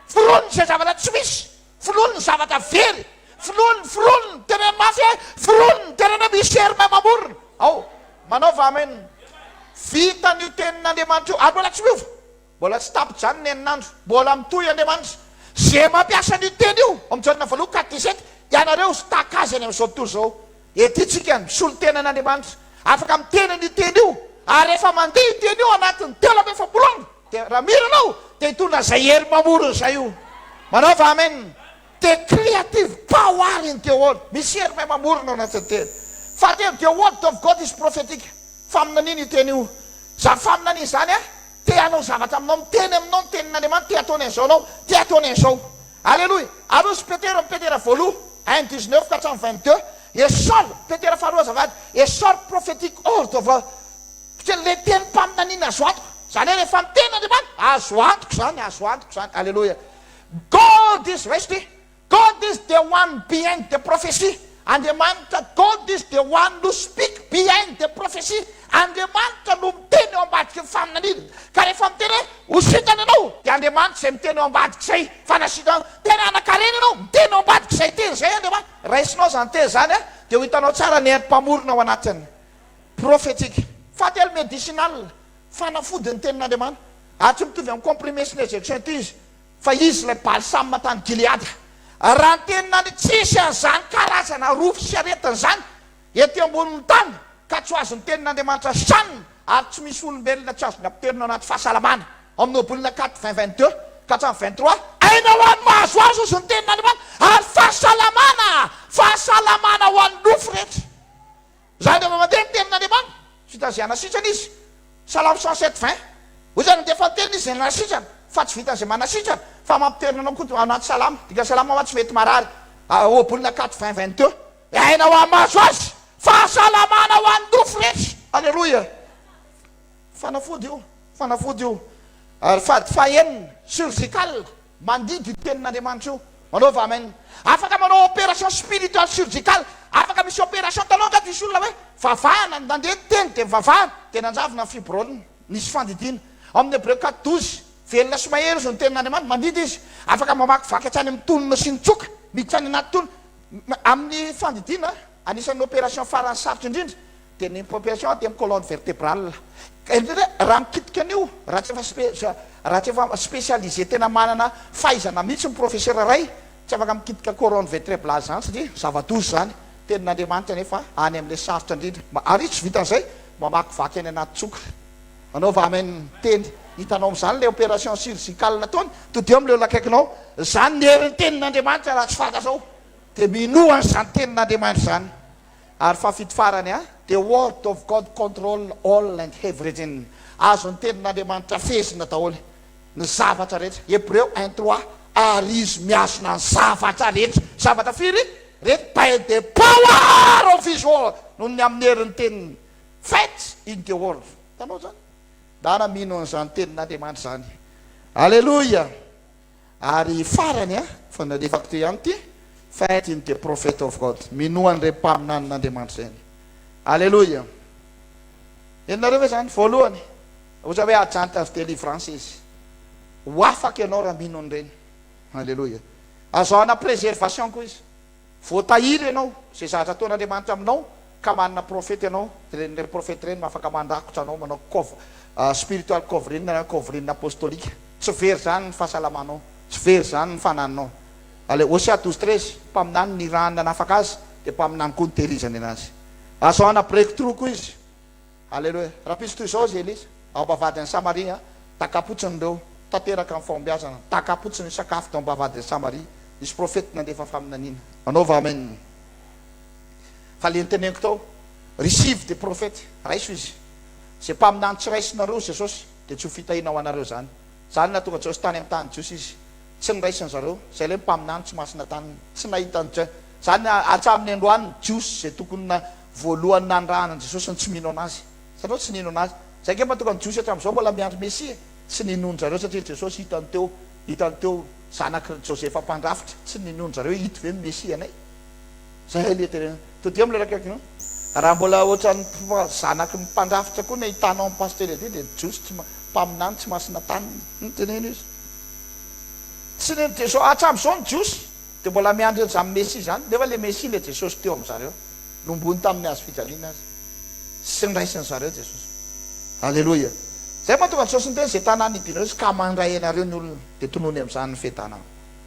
Foronina izay zavatra tsy misy. Fololy ny zavatra very, fololy ny fololy ny tenen'ny mafy e, fololy ny tenen'ny misy germe mamorona ao. Manaova amen. Vitan' io tenin' Andriamanitra io ary mbola tsy miova. Mbola tsy tapi-janona ny enin'andro. Mbola mitohy Andriamanitra. Ze mampiasa an' io teny io, ao amin' Jaona voalohany quatre dix sept, ianareo staka azy any amin' izao tontolo izao. Ety tsika no mpisolo tena an' Andriamanitra. Afaka miteny an' io teny io. Ary rehefa mandeha io teny io anatin' ny telo amby efapolo andro. Dia raha mino anao dia hitondra izay hery mamorona izay io. Manao va amen? Dia creative power in the word. Misy hery mahay mamorona ao anatin'ny teny. Fahatelo, the word of God is prophetic. Faminaniana io teny io. Izany faminaniana izany a, te hanao zavatra aminao, miteny aminao ny tenin'Andriamanitra, te hataony an'izao anao, te hataony an'izao. Aleloia. Aroso Petera amin'ny Petera voaloha, un dix neuf ka hatramin'ny vingt deux, a sure, Petera faharoa azafady, a sure prophetic word of God. Kely le teny mpaminaniana azo antoka zany hoe rehefa miteny Andriamanitra azo antoka izany azo antoka izany aleloia God is resty God is the one behind the prophecy Andriamanitra God is the one who speak behind the prophecy Andriamanitra no miteny eo ambadiky ny faminaniana ka rehefa miteny hoe ho sitrana ianao dia Andriamanitra izay miteny eo ambadiky izay fa na sitrana tena hanankarena ianao miteny eo ambadiky izay teny izay Andriamanitra raisinao izany teny izany dia ho hitanao tsara ny herim-pamorona ao anatin'ny Profetic. Fahatelo, Medicinal. Fanafody ny tenin'Andriamanitra. Ary tsy mitovy amin'ny comprimés sy ny injection ity izy, fa izy ilay balsame tany Gileada. Raha ny tenin'Andriamanitra, tsy hisy an'izany karazana arofo sy aretina izany ety ambonin'ny tany, ka tsy ho azon'ny tenin'Andriamanitra shanina, ary tsy misy olombelona tsy azon'ny apoterina ao anaty fahasalamana. Ao amin'ny Ohabolana kat. Vingt, vingt deux ka hatramin'ny vingt trois. Aina ho an'ny mahazo azy hozy ny tenin'Andriamanitra, ary fahasalamana, fahasalamana ho an'ny nofo rehetra. Izaho dia mandeha ny tenin'Andriamanitra, tsy vita izay hanasitrana Izy. Salamo cent sept vingt. Hoy Izy, Nandefa ny teniny Izy izay nanasitrana, fa tsy vitan'izay manasitrana, fa mampiterina anao koa ao anaty salama. Dika salamo aho tsy mety marary. Ohabolana quatre vingt vingt deux. Aina ho amin'ny mahazo Azy. Fahasalamana ho an'ny nofo rehetra. Aleloia. Fanafody io, fanafody io. Ary fady fahenina, surgical, mandidy io tenin'Andriamanitra io, manaova amen. Afaka manao opération spiritual surgical, afaka misy opération, hitanao angady misy olona hoe vavahana, nandeha ny teny dia nivavahana, dia nanjavona ny fibrol-ny, nisy fandidiana. Ao amin'ny Hebreo quatre douze, velona sy mahery izy no tenin'Andriamanitra, mandidy izy, afaka mamakivaky hatrany amin'ny tolona sy ny tsoka, miditra any anaty tolona, amin'ny fandidiana, anisan'ny opération farany sarotra indrindra, dia ny pompation dia ny colonne vertebrale ka indrindra raha mikitika an'io raha tsy efa raha tsy efa specialise tena manana fahaizana mihitsy ny professeur iray tsy afaka mikitika coronne vetreblale izany satria zava-doza izany tenin'Andriamanitra nefa any amin'ilay sarotra indrindra mba ary tsy vitan'izay mamakivaky any anaty tsoka anaova amen teny hitanao amin'izany ilay opération chirurgicale nataony todiho amin'ilay olona akaikinao izany ny herin'ny tenin'Andriamanitra raha tsy fantatra ao dia minoa an'izany tenin'Andriamanitra izany Ary fahafito farany a. The word of God control all and heverything Azo ny tenin'Andriamanitra fehezina daholo ny zavatra rehetra Hebreo un trois Ary Izy mihazona ny zavatra rehetra Zavatra firy rehetra by the power of His word Noho ny amin'ny herin'ny teniny Faith in the word Hitanao izany? Ndana mino an'izany tenin'Andriamanitra izany Aleloia! Ary farany a, fa nalefako teo ihany ity, Faith in the prophet of God, minoa an'ireny mpaminanin'Andriamanitra ireny. Aleloia! Henonareo ve izany? Voalohany, oza hoe agent of delivrance izy. Ho afaka ianao raha mino an'ireny. Aleloia! Azo hanam-preservation koa izy. Voatahiry ianao, izay zavatra ataon' Andriamanitra aminao, ka manana profeta ianao, ireny ireny profeta ireny no afaka mandrakotra anao, manao cov, spiritual covering na covering apostolique. Tsy very izany ny fahasalamanao, tsy very izany ny fanahinao. Ale, Hosea douze treize, mpaminany nirahany nanafaka azy, dia mpaminany koa nitehirizany anazy. Azo hanana breakthrough koa izy. Aleloia! Rapiso toy izao izy Elisa, ao am-bavahady any Samaria, Takapotsiny ireo, tanteraka amin'ny fahombiazana, takapotsiny ny sakafo tao am-bavahady any Samaria, nisy profety nandefa faminaniana. Manaova amen. Fa ilay noteneniko tao, receive the prophet, raiso izy. Izay mpaminany tsy raisinareo Jesosy, dia tsy ho fitahiana ho anareo izany. Izany no nahatonga Jiosy tany amin'ny tany Jiosy izy. Tsy niraisin-dry zareo, izay ilay mpaminany tsy masina taniny, tsy nahita an'i Je. Izany hatramin'ny androany, Jiosy izay tokony na. Voalohany nanirahana an'i Jesosy ny tsy mino anazy, satria tsy nino anazy. Izay ange mahatonga ny Jiosy hatramin'izao mbola miandry Mesia e! Tsy ninoan-dry zareo satria i Jesosy hitany teo, hitany teo zanak' ry Josefa mpandrafitra. Tsy ninoan-dry zareo hoe ito ve no Mesianay? Izay ilay tena. Todiamo ilay rakikaraky io. Raha mbola ohatran'ny zanak' ny mpandrafitra koa ny ahitanao ny Pasitera ety dia ny Jiosy tsy, mpaminany tsy masina taniny. Teneno izy. Tsy nino Jesosy, hatramin'izao ny Jiosy. Dia mbola miandry an'izany Mesia izany, nefa ilay Mesia, ilay Jesosy teo amin-dry zareo, nomboiny tamin'ny hazo fijaliana Azy, sy niraisin-dry zareo Jesosy. Aleloia! Izay no mahatonga an'i Jesosy niteny, Izay tanàna hidianareo izy ka mandray anareo ny olona, dia tonony amin'izany ny fetanà.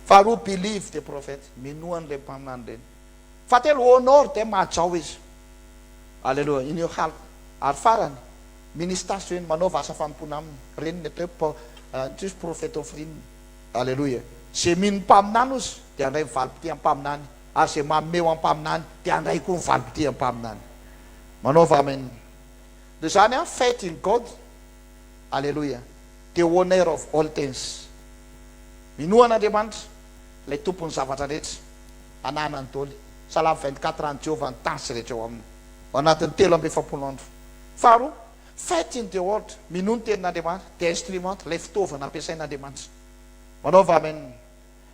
Faharoa, Believe the prophet, minoa an'ireny mpaminany ireny. Fahatelo, Honor them, hajao izy. Aleloia! In your heart. Ary farany, Minister to him, manaova asa fanompoana aminy. Ireny ny atao hoe, Introduce prophet offering. Aleloia! Ze mino ny mpaminany ozy dia handray ny valim-pitia mpaminany ary ze manome ho ampaminany dia handray koa ny valim-pitia mpaminany. Manaova amen ndry zany an faith in God Aleloia the owner of all things Minoa an'Andriamanitra ilay tompon'ny zavatra rehetra anahana ny doly Salamo vingt-quatre an'i Jehovah ny tany sy rehetra ao aminy ao anatin'ny telo amby efapolo andro Faharoa Faith in the word, minoa ny tenin'Andriamanitra, dia instrument, ilay fitaovana ampiasain'Andriamanitra. Manaova amen.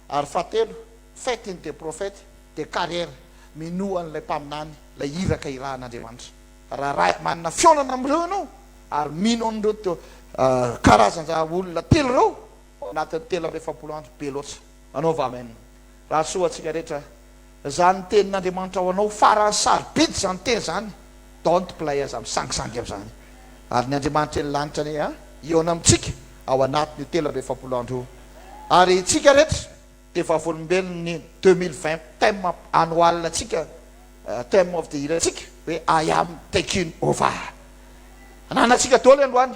Ary fahatelo, faith in the prophet, dia carrière, minoa an'ilay mpaminany, ilay iraka irahan'Andriamanitra. Raha raha manana fihaonana amin'ireo ianao ary mino an'ireo to karazan-draha olona telo ireo ao anatin'ny telo amby efapolo andro, be loatra. Manaova amen. Raha soa ho antsika rehetra. Zany tenin'Andriamanitra ho anao farany sarobidy zany teny zany don't play aza misangisangy amzany ary ny Andriamanitra eny lanitra anie a hihaona amintsika ao anatin'io telo amby efapolo andro io ary itsika rehetra dia vavolombelon'ny deux mille vingt thème annual ntsika thème of the year ntsika hoe I am taking over ananantsika doly androany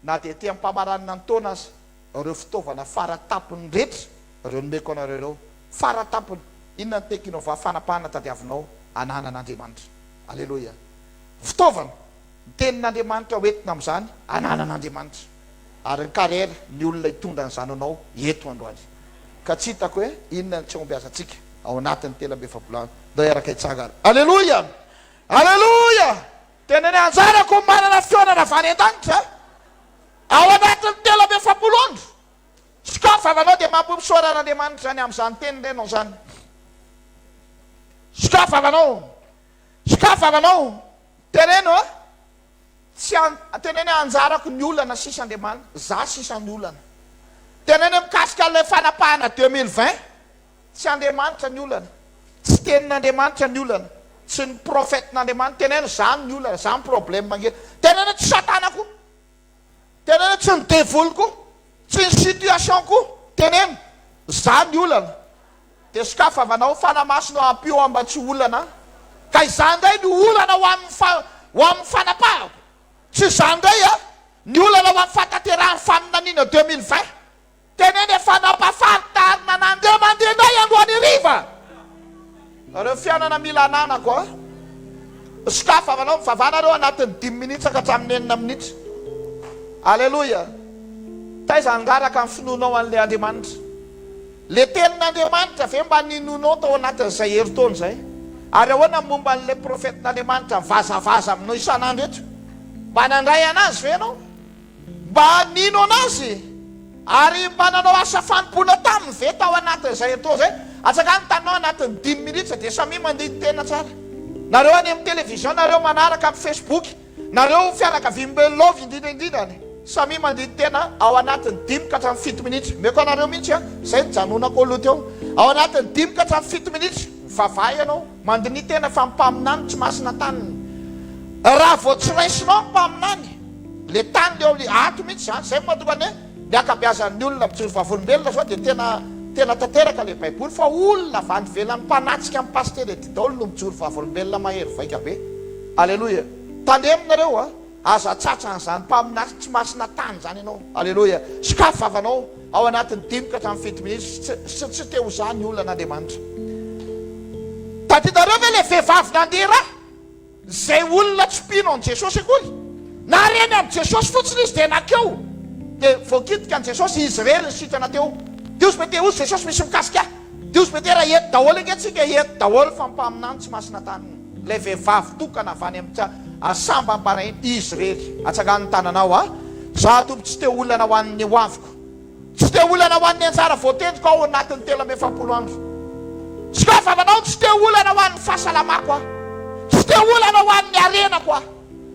Na dia ety am-pamaranana ny taona aza, ireo fitaovana fara tampony rehetra ireo nomeko anareo ireo, fara tampony, inona ny tekinova fanapahana tadiavinao ananana Andriamanitra? Aleloia! Fitaovana, ny Tenin'Andriamanitra ho entina amin'izany ananana Andriamanitra. Ary ny carrière, ny olona hitondra an'izany ho anao eto androany. Ka tsy hitako hoe inona ny tsy hahombiazantsika ao anatin'ny telo amby efapolo andro. Ndao hiaraka hitsangana. Aleloia! Aleloia! Tena ny anjarako ny manana fihaonana avy any an-danitra ao anatin'ny telo amby efapolo andro. Scar vava anao dia mampo misaora an'Andriamanitra izany amin'izany teny renao izany. Scar vava anao. Scar vava anao. Teneno a. Tsy an, teneno hoe anjarako ny olana sisa Andriamanitra, za sisa ny olana. Teneno hoe mikasika an'ilay fanapahana deux mille vingt. Tsy Andriamanitra ny olana, tsy tenin'Andriamanitra ny olana, tsy ny propheten'Andriamanitra, teneno zany ny olana, zany problème angeh, teneno tsy satana koa, teneno tsy ny devoly koa, tsy ny situation koa, teneno zany ny olana, de sokafa avanao fanamaso no ampio aho mba tsy olana ka izany indray no olana ho amin'ny fa ho amin'ny fanapahako, tsy izany indray a, ny olana ho amin'ny fahatanterahan'ny faminaniana deux mille vingt. Teneno efa nampafantarina nandeha mandeha indray androany hariva ireo fiainana mila ananako a! Misokafy vavanao mivavana ireo anatin'ny dimy minitra ka hatramin'ny enina minitra. Aleloia! Taiza hangaraka ny finoanao an'ilay Andriamanitra? Ilay Tenin'Andriamanitra ve mba ninoanao tao anatin'izay herintaona izay? Ary ahoana ny momba an'ilay profetin'Andriamanitra mivazavaza aminao isan'andro eto? Mba nandray an'Azy ve ianao? Mba nino an'Azy ary mba nanao asa fanompoana taminy ve tao anatin'izay etoa izay? Atsakany taminao anatin'ny dimy minitra dia samia mandini-tena tsara. Nareo any amin'ny télévision, nareo manaraka amin'ny Facebook, nareo fianakavian'i Belov indrindra indrindra any, samia mandini-tena ao anatin'ny dimy ka hatramin'ny fito minitra. Omeko anareo mihitsy an, izay nijanonako aloha teo. Ao anatin'ny dimy ka hatramin'ny fito minitra, mivavaha ianao. Mandiniha tena fa mpaminany tsy masina tany raha vao tsy raisinao ny mpaminany le tany le oly ato mihitsy zany zay mahatonga ny hoe ny akabeazan'ny olona mijoro vavolombelona zao dia tena tena tanteraka le baiboly fa olona avy any ivelany mpanatsika ny pasitera edy daoly no mijoro vavolombelona mahery vaika be aleloia tandremo nareo a Aza atsatsa an'izany mpaminany tsy masina tany izany ianao. Aleloia. Sokafy vavanao ao anatin'ny dimy ka hatramin'ny fito minitra sy tsy te ho zà ny olona an'Andriamanitra. Tadidinareo ve ilay vehivavy nandeha ra izay olona tsy mpino an'i Jesosy akory? Nareny amin'i Jesosy fotsiny izy dia nankeo dia voakitika an'i Jesosy izy irery ny sitrana teo. Diosy Meteus Jesosy misy mikasika ahy. Dios Betera eto daholo ange tsika eto daholo fa mpaminany tsy masina tany lay vehivavy tokana avy any amika sambany barainy izy rery atsangano ny tananao a za tompo tsy te olana ho an'ny hoaviko tsy te olana ho an'ny anjara voatendriko ao anatiny telo amby efapolo andro sy koa vavanao tsy te olana ho an'ny fahasalamako a tsy te olana ho an'ny arenako a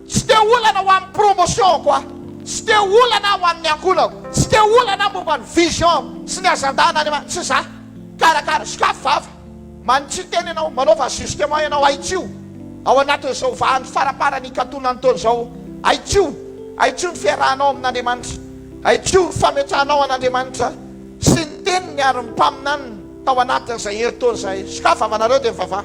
Tsy te olana ho amin'ny promotion-ko aho, tsy te olana aho ho amin'ny ankolako, tsy te olana aho momba ny vision-ko sy ny agenda-an' Andriamanitra, tsy za. Karakara, sokafy vava, manitsy tena ianao, manaova ajustement ianao, ahitsio ao anatin'izao vahan' ny faramparan' hikatonan'ny taona izao, ahitsio, ahitsio ny fiarahanao amin' Andriamanitra, ahitsio ny fametrahanao an' Andriamanitra sy ny teniny ary ny mpaminaniny tao anatin'izay herintaona izay. Sokafy vavanareo dia mivavaha.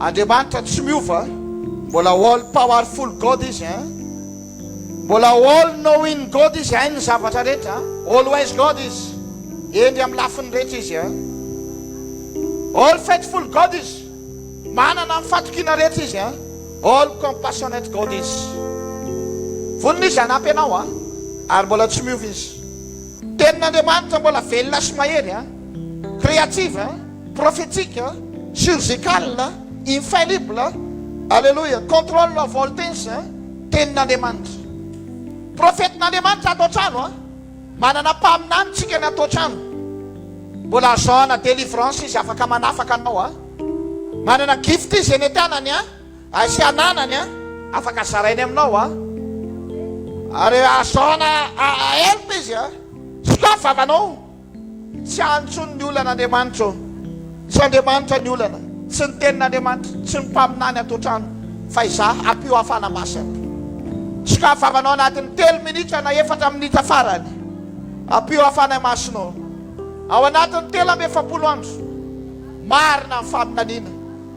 Andriamanitra tsy miova Mbola all powerful God izy a Mbola all knowing God izy Hainy ny zavatra rehetra All wise God izy Hendry amin'ny lafiny rehetra izy a All faithful God izy Manana ny fatokiana rehetra izy a All compassionate God izy Vonona izy hanampy anao a Ary mbola tsy miova izy Tenin'Andriamanitra mbola velona sy mahery a Creative a Profetika, surgical, infallible, Aleloia, control of all things, Tenin'Andriamanitra. Profetin'Andriamanitra ato an-trano an! Manana mpaminany tsika ny ato an-trano. Mbola azo zahana délivrance izy afaka manafaka anao an! Manana gift izy eny an-tanany an! Hay sy ananany an! Afaka zarainy aminao an! Ary azo zahana help izy an! Sokafy vavanao! Tsy antsoin' ny olana Andriamanitra ô. Tsy Andriamanitra ny olana, tsy ny tenin' Andriamanitra, tsy ny mpaminany ato an-trano, fa izaho, ampio hafana masina. Sokafanao anatin' ny telo minitra na efatra minitra farany. Ampio hafana masina ô. Ao anatin' ny telo amby efapolo andro, marina ny faminaniana.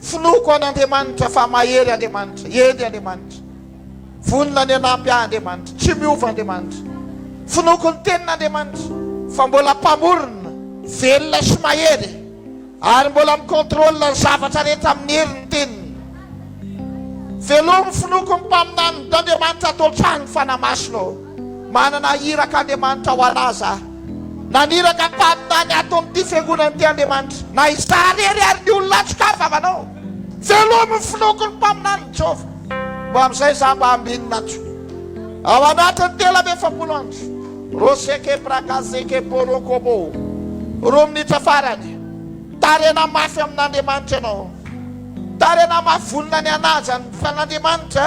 Finoako an' Andriamanitra fa mahery Andriamanitra, hendry Andriamanitra, vonona ny hanampy ahy Andriamanitra, tsy miova Andriamanitra. Finoako ny tenin' Andriamanitra fa mbola Mpamorona, velona sy mahery, ary mbola mi-contrôle ny zavatra rehetra amin' ny herin' ny teniny. Velomy finoako ny mpaminany, Andriamanitra ato an-trano, Fanahy Masina ô. Manana iraka Andriamanitra ho anà za. Naniraka mpaminany ato amin'ity fiangonana ity Andriamanitra, na izaho irery ary ny olona atsy ka vavanao. Velomin'ny finoako ny mpaminanin'i Jehovah. Mba amin'izay izaho mba ambinina atsy ao anatin'ny telo amby efapolo andro. Roseke Brakazeke Borokobo Roa minitra farany, Tarena mafy amin'Andriamanitra ianao. Tarena mafy vonona ny hanaja ny Fanandriamanitra.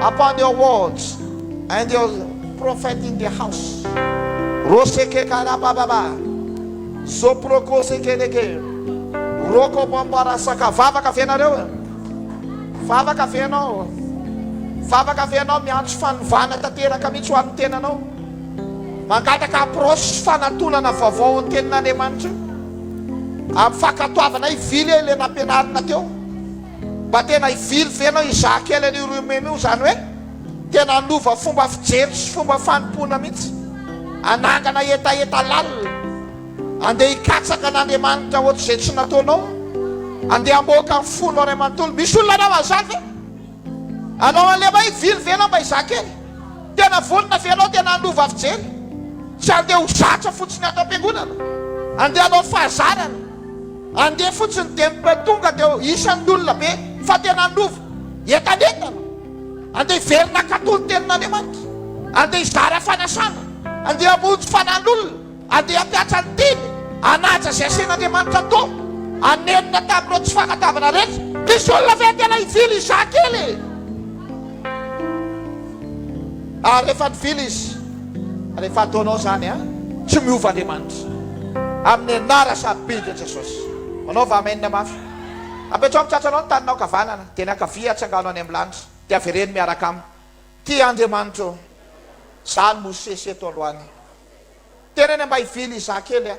upon your words and your prophet in the house roseke karabababa zoprokosekeleke rokobombarasaka vavaka ve nareo e vavaka ve ianao vavaka ve ianao miantso fanovana tanteraka mihitsy ho an'ny tenanao mangataka approche fanatonana vaovao ny tenin'Andriamanitra io amin'ny fankatoavana i vile ilay nampianarina teo Mba tena hivily ve ianao hizaha kely an'io Rumen io? Izany hoe tena hanova fomba fijery sy fomba fanompoana mihitsy, hanangana hetaheta lalina, handeha hikatsaka an'Andriamanitra ohatr'izay tsy nataonao, handeha hamoaka ny fonao iray manontolo. Misy olona hanao an'izany ve? Hanao an'ilay hoe hivily ve ianao mba hizaha kely? Tena vonona ve ianao tena hanova fijery? Tsy handeha ho zatra fotsiny ato am-piangonana, handeha hanao fahazarana. Andeha fotsiny dia mba tonga dia ho isan'ny olona be fa tena handova entanentana. Andeha hiverina hankatò ny Tenin'Andriamanitra. Andeha hizara fanasana. Andeha hamonjy fanan'olona. Andeha hampiatra ny teny. Hanaja izay asain'Andriamanitra atao. Hanenina tamin'ireo tsy fankatoavana rehetra. Misy olona ve tena hivily hizaha kely e? Ary rehefa nivily izy, rehefa ataonao izany an, tsy miova Andriamanitra. Amin'ny anara sarobidy ny Jesosy. Manaova Amen mafy. Apetraho amin'ny tratranao ny taninao ankavanana, dia ny ankavia atsangano any amin'ny lanitra, dia avereno miaraka aminy. Ty Andriamanitra ô! Za ny Mosesy eto aloany. Tenenina mba hivily izaho kely an.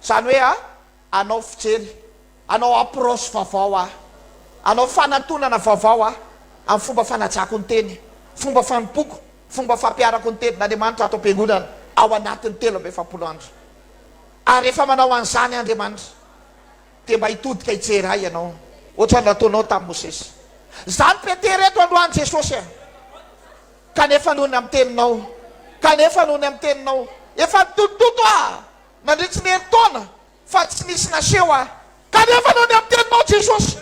Izany hoe an, Anao fijery, anao approche vaovao aho, anao fanatonana vaovao aho amin'ny fomba fanajako ny teny, fomba fanompoako, fomba fampiharako ny tenin'Andriamanitra ato am-piangonana ao anatin'ny telo amby efapolo andro. Ary rehefa manao an'izany Andriamanitra, dia mba hitodika hijery ahy ianao, ohatran'ny nataonao tamin'i Mosesy. Izany Petera eto androany Jesosy a! Kanefa noho ny amin'ny teninao, kanefa noho ny amin'ny teninao, efa nitotototo aho. Nandritry ny herintaona fa tsy nisy naseho aho. Kanefa noho ny amin'ny teninao Jesosy,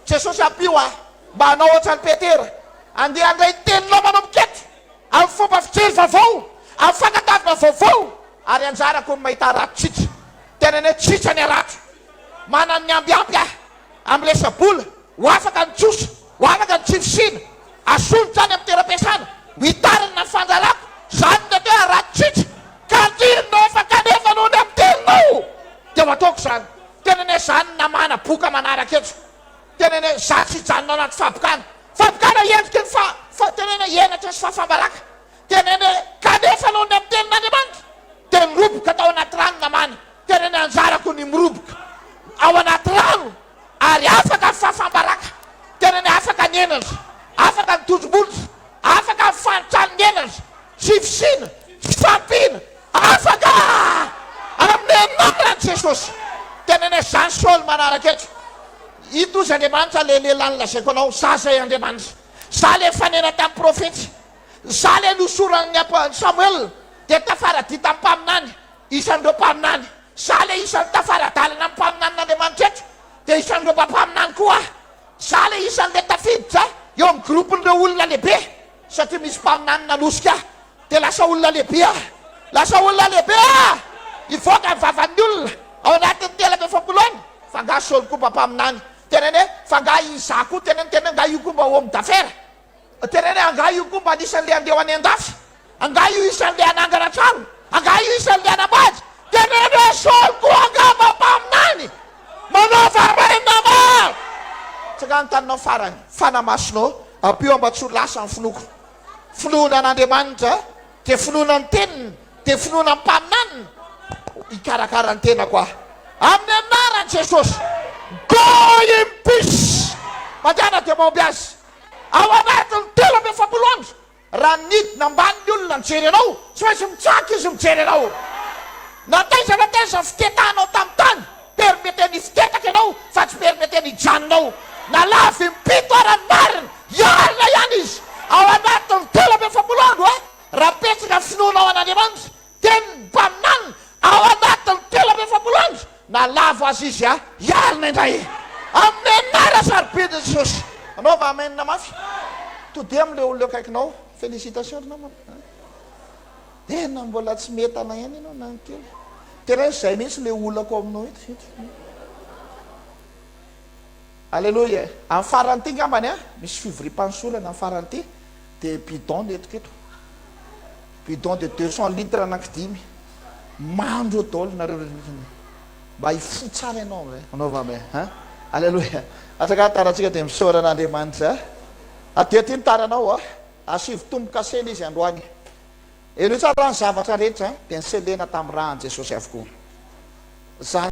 Jesosy ampio aho mba hanao hoatran'i Petera, handeha handray ny teninao manomboka eto, amin'ny fomba fijery vaovao, amin'ny fankatoavana vaovao, ary hanjarako ny mahita harato tsotra. Teneneo tsotra ny harato. Manan'ny ambiampy aho. amin'ny resa-bola, ho afaka ny trosa, ho afaka ny tsy fisiana, asolotra any amin'ny toeram-piasana, hitarina ny fandrarako, izany no atao hoe harato-tritra, ka antirinao efa kanefa noho ny antirinao dia ho ataoko izany, tena anie izany namana boka manaraka eto, tena anie izaho tsy hijanona anaty fabokana, fabokana endriky ny fa, fa, tena anie henatra sy fahafam-baraka, Tenene, Kanefa noho ny amin'ny Tenin'Andriamanitra, dia niroboka tao anaty rano namana. Tenene, Anjarako ny miroboka ao anaty rano ary afaka fafam-baraka. Tenene, Afaka ny henatra, afaka ny tondro-bolotra, afaka ny fanitranin'ny henatra, tsy fisiana, tsy fahampiana, afaka amin'ny anaran'i Jesosy. Tenene, Zany Saoly manaraka eto. Ito izy Andriamanitra, ilay lehilahy nolazaiko anao, Zah izay Andriamanitra. Zah ilay fanena tamin'ny profeta. Izaho ilay nohosoran'ny apoan'i Samoela, dia tafaradita amin'ny mpaminany, isan'ireo mpaminany. Izaho ilay isan'ny tafara-dalana amin'ny mpaminanin'Andriamanitra eto, dia isan'ireo mba mpaminany koa aho. Izaho ilay isan'ilay tafiditra eo amin'ny gropin'ireo olona lehibe, satria misy mpaminany nanosika ahy, dia lasa olona lehibe aho. Lasa olona lehibe aho! Nivoaka ny vavan'ny olona ao anatin'ny telo amby efapolo ane, fa angaha Saoly koa mba mpaminany? Tenenee, fa angaha izaho koa? Tenenee, angaha io koa mba homme d'affaires? Teneno e, angaha io koa mba anisan'ilay handeha ho any an-dafy? Angaha io isan'ilay hanangana trano? Angaha io isan'ilay hanambady? Teneno e, Saoly koa angamba mpaminany? Manao farainina maro! Tsy angaha ny taninao farany? Fanahy Masina ô, ampio aho mba tsy ho lasa amin'ny finoako. Finoana an'Andriamanitra, dia finoana ny Teniny, dia finoana ny mpaminaniny, hikarakara ny tenako aho. Amin'ny anaran'i Jesosy. Go in peace! Mandeha na dia mahomby aza. Ao anatin'ny telo amby efapolo andro, raha nidina ambany ny olona nijery anao, tsy maintsy mitsaka izy mijery anao. Na taiza na taiza fitetahanao tamin'ny tany, permeteny hifitetaka ianao fa tsy permeteny hijanona ao. Na lavo impito ara ny marina, hiarina ihany izy ao anatin'ny telo amby efapolo andro, raha betsaka ny finoanao an'Andriamanitra. Teny Banan ao anatin'ny telo amby efapolo andro na lavo azy izy a! Hialona indray e! Amin'ny anara sarobidy Jesosy! Anaova Amen mafy! Todia amin'ilay olona eo akaikinao! Félicitations ry namana a! Tena mbola tsy mientana ihany ianao na ny kely! Tena hoe izay mihitsy ilay olako aminao eto eto! Alléluia e! Amin'ny faran'ity angambany a! Misy fivoriam-panosorana amin'ny faran'ity dia bidon ny entiko eto! Bidon de deux cents litres anaky dimy mandro daolo nareo ry Reny mba hifoha tsara ianao eh anaova me hein Aleloia Azaka tarantsika dia misaora an' Andriamanitra eh Aty aty ny taranao ah Asivo tombo kasely izy androany Henoy tsara raha ny zavatra rehetra dia ny selena tamin'ny rà an'i Jesosy avokoa Zany